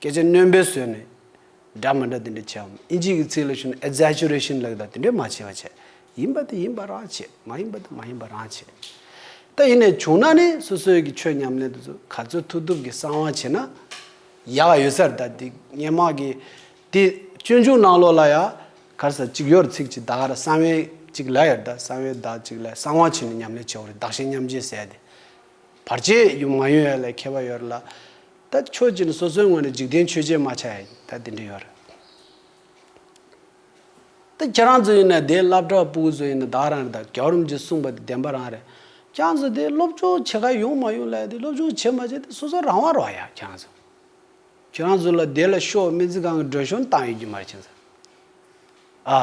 སྐད་ཆ་རྣོན་པོས་བཟོས་ནས་སྒྲ་མི་འདྲ་དེ་འདྲ་བྱེད་འམ་ཨིན་ཇིའི་གི་ཚིག་ལ་ཞུ་ན Exaggeration ལགས་དང་དེ་འདྲས་མ་བྱེད་པ་བྱས། ཡིན་པ་དེ་ཡིན་པ་རང་བྱེད་མ་ཡིན་པ་དེ་མ་ཡིན་པ་རང་བྱེད། ད་ཡིན་ནས་བྱུང་ན་ནི་སོ་སོའི་གི་ཆོས་ཉམས་ལེན་དུ་ཚུ་ག་ཚོད་ཐུབ་ཐུབ་གི་གསང་བ་བྱེད་ན་ཡག་ཡོད་སར་ད་དེ་སྙན་དམག་གི་དེ་སྤྱོད་འཇུག་གནང་ལོག་ལ་ཡ་གར་སར་གཅིག་ཡོད་ར་ཚིག་གཅིག་དག་ར་གསང་བའི་གཅིག་ལ་ཡར་ད་གསང་བའི་དག་གཅིག་ལ་གསང་བ་བྱེད་ནས་ཉམས་ལེན་བྱེད་འོ་རེད་དག་ཤེས་མཉམ་རྗེས་ཟད་དེ། བར་ཆད་ཡུམ་མ་ཡོན་ཡ་ལས་ཁྱད་པར་ཡོད་ར། ད་ཁྱོད་ཀྱི་ནི་སོ་སོའི་ངོ་ནས་འཇིག་རྟེན་ཆོས་ཅན་མ་ཆགས་ཡིན་ད་དེ་འདྲ་ཡོད་ར། ད་ཁྱེད་རང་ཚོ་ཡིན་ན་དེའི་བླ་བྲག་སྤུ་གུ་ཚོ་ཡིན་ན་བདག་རང་རེད་ད་རྒྱ་རོམ་གྱིས་གསུངས་པ་དེ་བདེན་པ་རང་རེད། ཁྱང་ཚོ་དེ་སློབ་སྦྱོང་བྱེད་ཁ་ཡོང་མ་ཡོང་ལ་ཡ་དེ་སློབ་སྦྱོང་བྱེད་མ་བྱེད་དེ་སོ་སོ་རང་དབང་རོགས་ཡ་ཁྱང་ཚོ། ཁྱོད་རང་ཚོ་ལ་དེ་ལ་ཤོག་སྨན་རྩིས་ཁང་གི་སྒྲོལ་གཞོན་བཏང་ཡོད་རྒྱུ་མ་རེད་ཁྱང་ཚོ།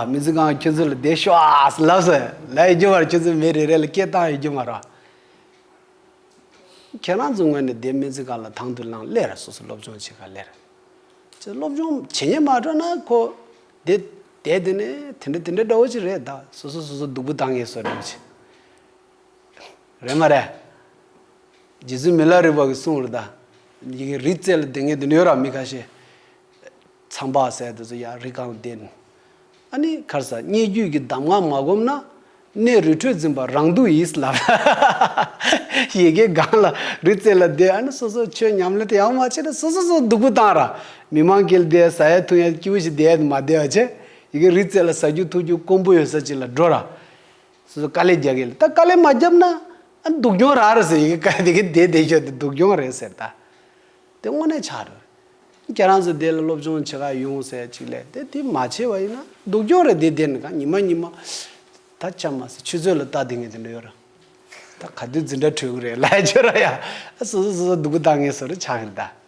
མི་ཚེ་གང་ཁྱོད་ཚོ་ལ་བདེ་ཤོག་ལབ་ཟེར་ལབ་ཡི་རྒྱུ་བར་ཁྱོད་ཚོའི་མི་རེ་རེ་ལ་སྐད་བཏང་ཡི་རྒྱུ་མ་རོགས། ཁྱེད་རང་ཚོ་ངོས་ནས་བདེ་མི་ཚེ་གང་ལ་དང་དུ་བླངས་སླེར་སོ་སོ་སློབ་སྦྱོང་བྱེད་ག་ལེར། ཁྱོད་སློབ་སྦྱོང་བྱེད་ཉན་མ་འགྲོ་ན་ཁོ། དེ་དེ་དེ་ནས་དེ་འདྲ་དེ་འདྲ་འདྲ་བོ་ཅིག་རེད་ད་སོ་སོ་སོ་སོ་སྡུག་པོ་བཏང་ངེས་སོ་རེད་ཅིག། རེད་མ་རེད། རྗེ་བཙུན་མི་ལ་རིགས་པ་གིས་གསུངས་རེད་ད། ཡི་གེ་རིག་རྩལ་ལ་དེ་ངེས་དུ་ཡོད་ར་མི་ཁ་ཤས། ཚངས་པ་སད་དུ་ཡང་རི་གངས་ལྡན། ཨ་ནི་ཁར་ས་སྙེད་རྒྱུད་ཀྱི་གདམས་ངག་མ་བསྒོམས་ན། གནས་རི་ཁྲོད་འཛིན་པ་རང་སྡུག་ཡིས་ལ། ཡི་གེ་གངས་ལ་རི་རྩེ་ལ་བསྡད་ཨ་ནི་སོ་སོར་ཆོས་ཉམས་ལེན་དེ་ཡང་མ་བྱས་ན་སོ་སོ་སོར་སྡུག་པོ་བཏང་ར། མི་མང་གིལ་བསྡད་ས་ཡ་ཐུང་ཡ་སྐྱིད་པོ་ཞིག་བསྡད་དེ་མ་བསྡད་བ་བྱས། ཡི་གེ་རི་རྩེ་ལ་ཟ་རྒྱུ་འཐུ་རྒྱུ་དཀོན་པོ་ཡོད་ས་ཅིག་ལ་འགྲོ་ར། སོ་སོ་དཀའ་ལས་རྒྱག་གིལ་ད་དཀའ་ལས་མ་བརྒྱབ་ན། ཨ་ནི་སྡུག་གྱོང་ར་ར་ཟེར་ཡི་གེ་གངས་དེ་གའི་སྡེ་དེ་ཤོར་ཏེ་སྡུག་གྱོང་རེད་ཟེར་ད། དེ་དངོས་གནས་ཆགས་རེད། ཁྱེད་རང་ཚོས་དེ་ལ་སློབ་སྦྱོང་བྱེད་ཁག་ཡོང་ཟེར་ཡ་ཅིག་ལས་དེ་དེ་མ་བྱས་པ་ཡིན་ན་སྡུག་གྱོང་རེད་དེ་དེ་ནི་གང་ཉི་མ་ཉི་མ་ད་ཅང་མ་ཟད་ཆུ་ཚོད་ལ་བལྟ་དེ་ངས་དེ་འདྲ་ཡོད་ར། ད་ག་དུས་འཛིན་གྲྭ་གྲོལ་གི་རེད་ལས་ཆོད་ར་ཡ། ཨ་སོ་སོ་སོ་སོ་སྡུག་གི་ལྟ་ངན་སོ་རེ་ཆགས་གི་རེད་ད།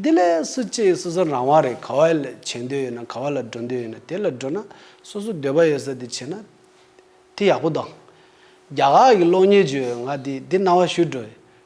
དེ་ལས་སུ་གཅེས་སོ་སོ་རང་དབང་རེད་ག་བ་ལ་བྱེད་འདོད་ཡོད་ན་ག་བ་ལ་འགྲོ་འདོད་ཡོད་ན་དེ་ལ་འགྲོ་ན་སོ་སོ་འདོད་པ་ཡོད་ས་དེ་བྱེད་ན་དེ་ཡག་པོ་དང། རྒྱ་གར་གི་གློག་བརྙན་བརྗོད་ཡོད་ང་དེ་དེ་རྣ་བ་བཤུས་འགྲོ་ཡོད་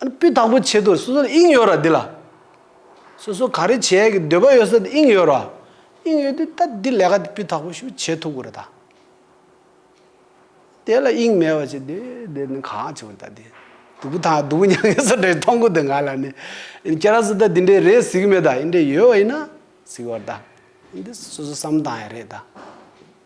དཔེ་དང་པོ་བྱེད་དུ་སོ་སོར་དབྱིངས་ཡོད་ར་འདི་ལ། སོ་སོ་ག་རེ་བྱེད་ཀྱི་འདོད་པ་ཡོད་སར་དབྱིངས་ཡོད་ར། དབྱིངས་ཡོད་དུས་ད་འདི་ལས་ཀ་དེ་དཔེ་དག་པོ་ཞུ་བྱེད་ཐུག་གུ་ར་ད། དེ་ལ་དབྱིངས་མེད་པ་ཅི་འདི་འདི་ནི་གང་བྱུང་བ་ད་འདི། སྡུག་གུ་དང་སྡུག་གུ་མྱང་ཡོད་སར་འདྲ་ཡི་མཐོང་གུ་དེ་ང་ལ་ནི། ཁྱེད་རང་སུ་ད་འདི་འདྲའི་རེད་གཟིགས་མེད་ད་འདྲའི་ཡོད་བ་ཡིན་ན་གཟིགས་བར་ད། འདི་སོ་སོ་བསམ་དང་ཡ་རེད་ད།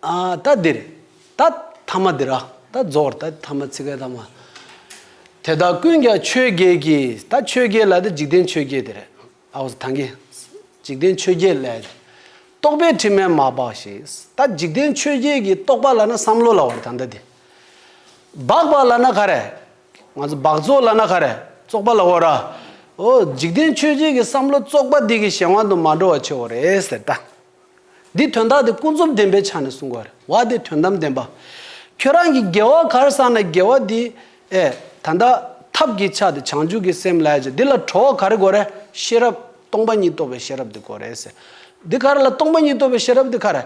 ད་འདིར་ད་ཐ་མ་འདིར་ད་རྫོགས་བར་ད་ཐ་མ་ཚིག་གི་ཐ་མ། དེ་དག་ཀུན་ཀྱང་ཆོས་བརྒྱད་ཀྱིས་ད་ཆོས་བརྒྱད་ལ་ད་འཇིག་རྟེན་ཆོས་བརྒྱད་དེ་རེད། ཐང་གི། འཇིག་རྟེན་ཆོས་བརྒྱད་ལས། རྟོག་པའི་དྲི་མས་མ་སྦགས་ཤིང་ད་འཇིག་རྟེན་ཆོས་བརྒྱད་ཀྱི་རྟོག་པ་ལ་ན་བསམ་བློ་ལ་བར་ད་འདི་དེ། སྦགས་པ་ལ་ན་ག་རེ། ང་ཚོ་སྦགས་བཙོག་ལ་ན་ག་རེ་བཙོག་པ་ལ་བར། འོ་འཇིག་རྟེན་ཆོས་བརྒྱད་ཀྱི་བསམ་བློ་བཙོག་པ་འདི་གི་གཞན་དབང་དུ་མ་འགྲོ་བ་ཆོས་བར་རེད་ཟེར་ད། འདིས་དོན་དག་དེ་ཀུན་རྫོབ་བདེན་པའི་ཆ་ནས་གསུང་བར་བ་དེ་དོན་དམ་བདེན་པ། ཁྱོད་རང་གིས་དགེ་བ་གར་བསགས་ན་དགེ་བ་དེ། ཨེ། ད་ལྟ། ཐབས་ཀྱི་ཆ་དེ་བྱང་ཆུབ་ཀྱི་སེམས་ལས་ཀྱི་འདི་ལ་གྲོལ་བ་གར་གོ་རེ། ཤེས་རབ། སྟོང་པ་ཉིད་རྟོགས་པའི་ཤེས་རབ་དེ་གོ་རེ། འདི་གར་ལ་སྟོང་པ་ཉིད་རྟོགས་པའི་ཤེས་རབ་དེ་གར།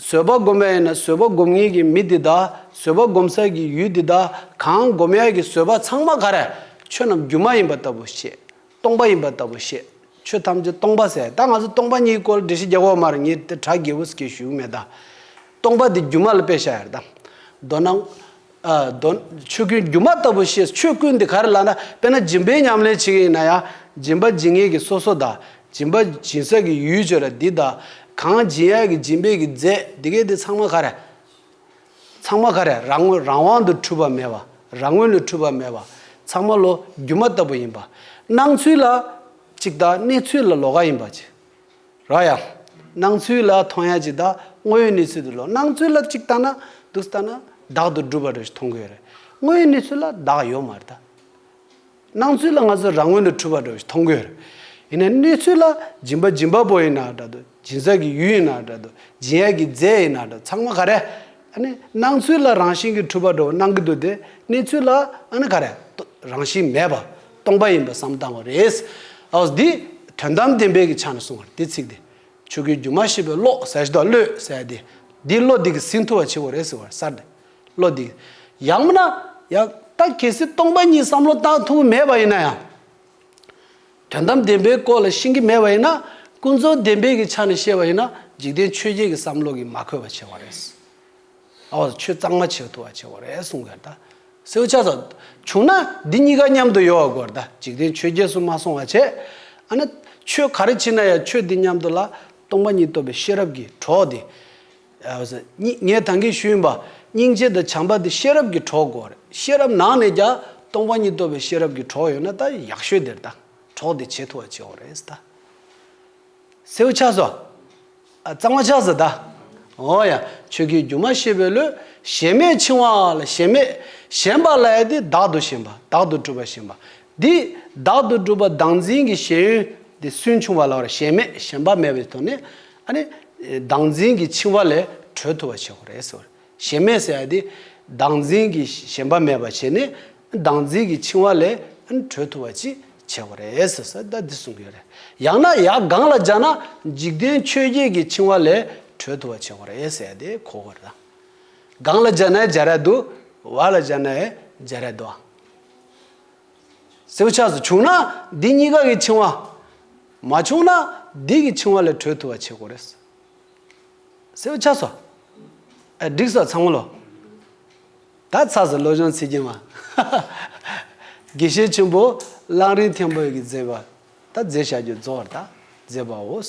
བཟོད་པ་བསྒོམ་པ་ཡིན་ན་བཟོད་པ་བསྒོམ་ངེས་ཀྱི་མི་དེ་དག་བཟོད་པ་བསྒོམ་ས་ཀྱི་ཡུལ་དེ་དག་གང་བསྒོམ་ཡས་ཀྱི་བཟོད་པ་ཚང་མ་གར། ཆོས་རྣམས་སྒྱུ་མ་ཡིན་པ་ལྟ་བུ་ཤེས། སྟོང་པ་ཡིན་པ་ལྟ་བུ་བཤད། ཆོས་ཐམས་ཅད་སྟོང་པ་ཟད་ད་ང་ཚོ་སྟོང་པ་ཉིད་སྐོར་འདྲི་ཞིག་རྒྱ་གོག་མར་ཉིད་དེ་གྲགས་དགེ་བུ་སི་ཀའི་བཞུགས་མེད་ད། སྟོང་པ་འདི་སྒྱུ་མ་ལ་དཔེ་བཞག་ཡར་དང། མདོར་ན། མདོར་ན། ཆོས་ཀུན་སྒྱུ་མ་ལྟ་བུ་ཤེས་ཆོས་ཀུན་འདི་ག་རེ་ལགས་ན་དཔེར་ན་སྦྱིན་པའི་ཉམས་ལེན་བྱེད་མཁན་ཡིན་ན་ཡང། སྦྱིན་པ་སྦྱིན་མཁན་གྱི་སོ་སོ་ད། སྦྱིན་པ་སྦྱིན་ས་ཀྱི་ཡུལ་བྱོས་ལ་འདི་ད། གང་སྦྱིན་ཡ་གི་སྦྱིན་པས་ཀྱི་རྫས་འདི་གས་འདི་ཚང་མ་ག་རེ། ཚང་མ་ཁ་རས་རང་ངོས་རང་དབང་དུ་འཁྲུལ་པ་མེད་པ། རང་ངོས་ལས་འཁྲུལ་པ་མེད་པ། ཚང་མ་ལོ་རྒྱུས་མ་ལྟ་བུ་ཡིན་པ། སྣང་ཚུལ་ལ། གཅིག་དག་གནས་ཚུལ་ལ་ལོག་ག་ཡིན་པ། གཅིག་ར་ཡ། སྣང་ཚུལ་ལ་མཐོང་ཡ་གཅིག་དག་དངོས་ཡོད་གནས་ཚུལ་དུ་ལོག་སྣང་ཚུལ་ལ་གཅིག་ལྟ་ན། འདུག་ལྟ་ན། བདག་ཏུ་སྒྲུབ་པ་རེད་མཐོང་གི་ཡོད་རེད། དངོས་ཡོད་གནས་ཚུལ་ལ་བདག་ཡོད་མ་རེད་ད། སྣང་ཚུལ་ལ་ང་ཚོས་རང་ངོས་ནས་འཁྲུལ་བ་འདྲ་བོ་ཞིག་མཐོང་གི་ཡོད་རེད། ཡིན་ནའི་གནས་ཚུལ་ལ་སྦྱིན་པ་སྦྱིན་པ་པོ་ཡིན་ན་འདྲ་དུ་སྦྱིན་བསགས་ཀྱི་ཡུལ་ཡིན་ན་འདྲ་དུ་སྦྱིན་ཡས་ཀྱི་རྫས་ཡིན་ན་འདྲ་ཚང་མ་ག་རེ། ཨ་ནི་སྣང་ཚུལ་ལ་རང་བཞིན་གྱིས་འཁྲུལ་པ་འདྲ་བོ་སྣང་གི་འདུག་དེ་གནས་ཚུལ་ལ་ཨ་ནི་ག་རེ། རང་བཞིན་མེད་པ། སྟོང་པ་ཡིན་པར་བསམ་བཏང་བ་རེད། ཨོ་འདི་དོན་དམ་བདེན་པའི་གི་ཆ་ནས་གསུངས་བར་དེ་ཚིག་དེ། ཆོས་ཀུན་སྒྱུ་མ་ཤེས་པའི་བློ་ཟད་ཞི་དོགས་བློས་ཟད་དེ། འདིས་བློ་འདི་གི་ཟིན་ཐུ་བ་ཆེ་བོ་རེད་ཟེར་བར་གསར་ཏེ། བློ་འདི། ཡང་མིན་ན། ཡང། ད་གལ་སྲིད་སྟོང་པ་ཉིད་བསམ་བློ་བཏང་ཐུབ་ཀྱི་མེད་པ་ཡིན་ན་ཡང། དོན་དམ་བདེན་པའི་སྐོར་ལ་ཤེས་ཀྱི་མེད་པ་ཡིན་ན། ཀུན་རྫོབ་བདེན་པའི་གི་ཆ་ནས་བཤད་པ་ཡིན་ན་འཇིག་རྟེན་ཆོས་བརྒྱད་ཀྱི་བསམ་བློ་གིས་མ་འཁོད་པ་ཆེ་བ་རེད། ཨ་བ། ཆོས་གཙང་མ་བྱེད་ཐུབ་པ་ཆེ་བ་རེད་གསུངས་དགོས་ད། སེའུ་ཆ་སོགས། བྱུང་ན། འདི་གཉིས་ཀ་མཉམ་དུ་ཡོད་བ་དགོས་ད་འཇིག་རྟེན་ཆོས་བརྒྱད་སུ་མ་སོང་བ་བྱས། ཨ་ན། ཆོས་ག་རེ་བྱེད་ན་ཡང་ཆོས་འདི་མཉམ་དུ་ལ། སྟོང་པ་ཉིད་རྟོགས་པའི་ཤེས་རབ་ཀྱིས་གྲོགས་འདི། ངས་དང་གིས་ཞུས་ཡིན་པ། སྙིང་རྗེ་དང་བྱམས་པ་འདི་ཤེས་རབ་ཀྱི་གྲོགས་གོ། ཤེས་རབ་ནང་ནས་ཀྱང་སྟོང་པ་ཉིད་རྟོགས་པའི་ཤེས་རབ་ཀྱི་གྲོགས་ཡོད་ན་ད་ཡག་ཤོས་དེར་ད་གྲོགས་དེ་བྱེད་ཐུ་བ་བྱེད་འོ་རེད་ད། སེའུ་ཆགས་སོ། གཙང་མ་ཆགས་སོ་ད། འོ་ཡ། ཆོས་ཀྱི་རྒྱུ་མ་ཤེས་པའི་ལོས། ཞེན་མེད་འཆིང་བ་ལ་ཞེན་མེད། ཞེན་པ་ལ་ཡ་དེ་བདག་ཏུ་ཞེན་པ་བདག་ཏུ་གྲུབ་པ་ཞེན་པ། འདི། བདག་ཏུ་གྲུབ་པ་བདག་འཛིན་གྱི་ཞེན་ཡུལ། འདི་སུན་ཕྱུང་བ་ལ་བར་ཞེན་མེད་ཞེན་པ་མེད་པའི་དོན་ནི། ཨ་ནི། བདག་འཛིན་གྱི་འཆིང་བ་ལས་གྲོལ་ཐུབ་པ་བྱེད་དགོས་རེད་ཟེར། ཞེན་མེད་ཟེར་ཡ་དེ། བདག་འཛིན་གྱི་ཞེན་པ་མེད་པ་བྱས་ནས། བདག་འཛིན་གྱི་འཆིང་བ་ལས་གྲོལ་ཐུབ་པ་ཅིག་བྱེད་དགོས་རེད་ཟེར་ས་ད་འདི་གསུང་གི་ཡོད་རེད། ཡང་ན་ཡག་སྒང་ལ་སྦྱར་ན། འཇིག་རྟེན་ཆོས་བརྒྱད་ཀྱི་འཆིང་བ་ལས་གྲོལ་ཐུབ་པ་བྱེད་དགོས་རེད་ཟེར་ཡ་དེ་གོ་དགོས་རེད། སྒང་ལ་སྦྱར་ན་ཡ་སྦྱར་ཡ་དུ། བ་ལ་སྦྱར་ན་ཡ་སྦྱར་ཡ་དུའང། སྲེག་ཆགས་སུ་བྱུང་ན་འདི་གཉིས་ཀ་གི་འཆིང་བ། མ་བྱུང་ན་འདི་གི་འཆིང་བ་ལས་གྲོལ་ཐུབ་པ་བྱེད་དགོས་རེད། སྲེག་ཆགས་སོ། ཨེ་འགྲིག་སོ་ཚང་མ་ལོ། ད་ཚགས་སུ་བློ་སྦྱོང་ཚིག་རྒྱན་མ། དགེ་བཤེས་ཆེན་པོ་གླང་རིན་མཐེ་བོད་ཀྱི་མཛད་པ་ད་མཛད་བྱ་རྒྱུ་རྫོགས་བར་ད་མཛད་པའོ།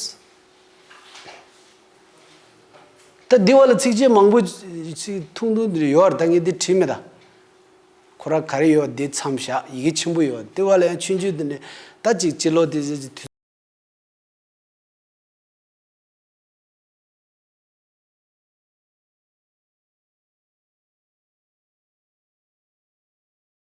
ད་འདི་བ་ལ་ཚིགས་བཅད་མང་པོ། ཐུང་ཐུང་འདིར་ཡོད་བར་ད་ངས་འདི་བྲིས་མེད་ད། ཁོ་ར་ག་རེ་ཡོད་འདི་མཚམས་བཞག་ཡི་གེ་ཆེན་པོ་ཡོད་དེ་བ་ལ་ཡང་ཆུན་ཆུན་དུ་ནས་ད་ཅིག་སྤྱི་ལོ་དེ་ཟེར་གྱི་དུས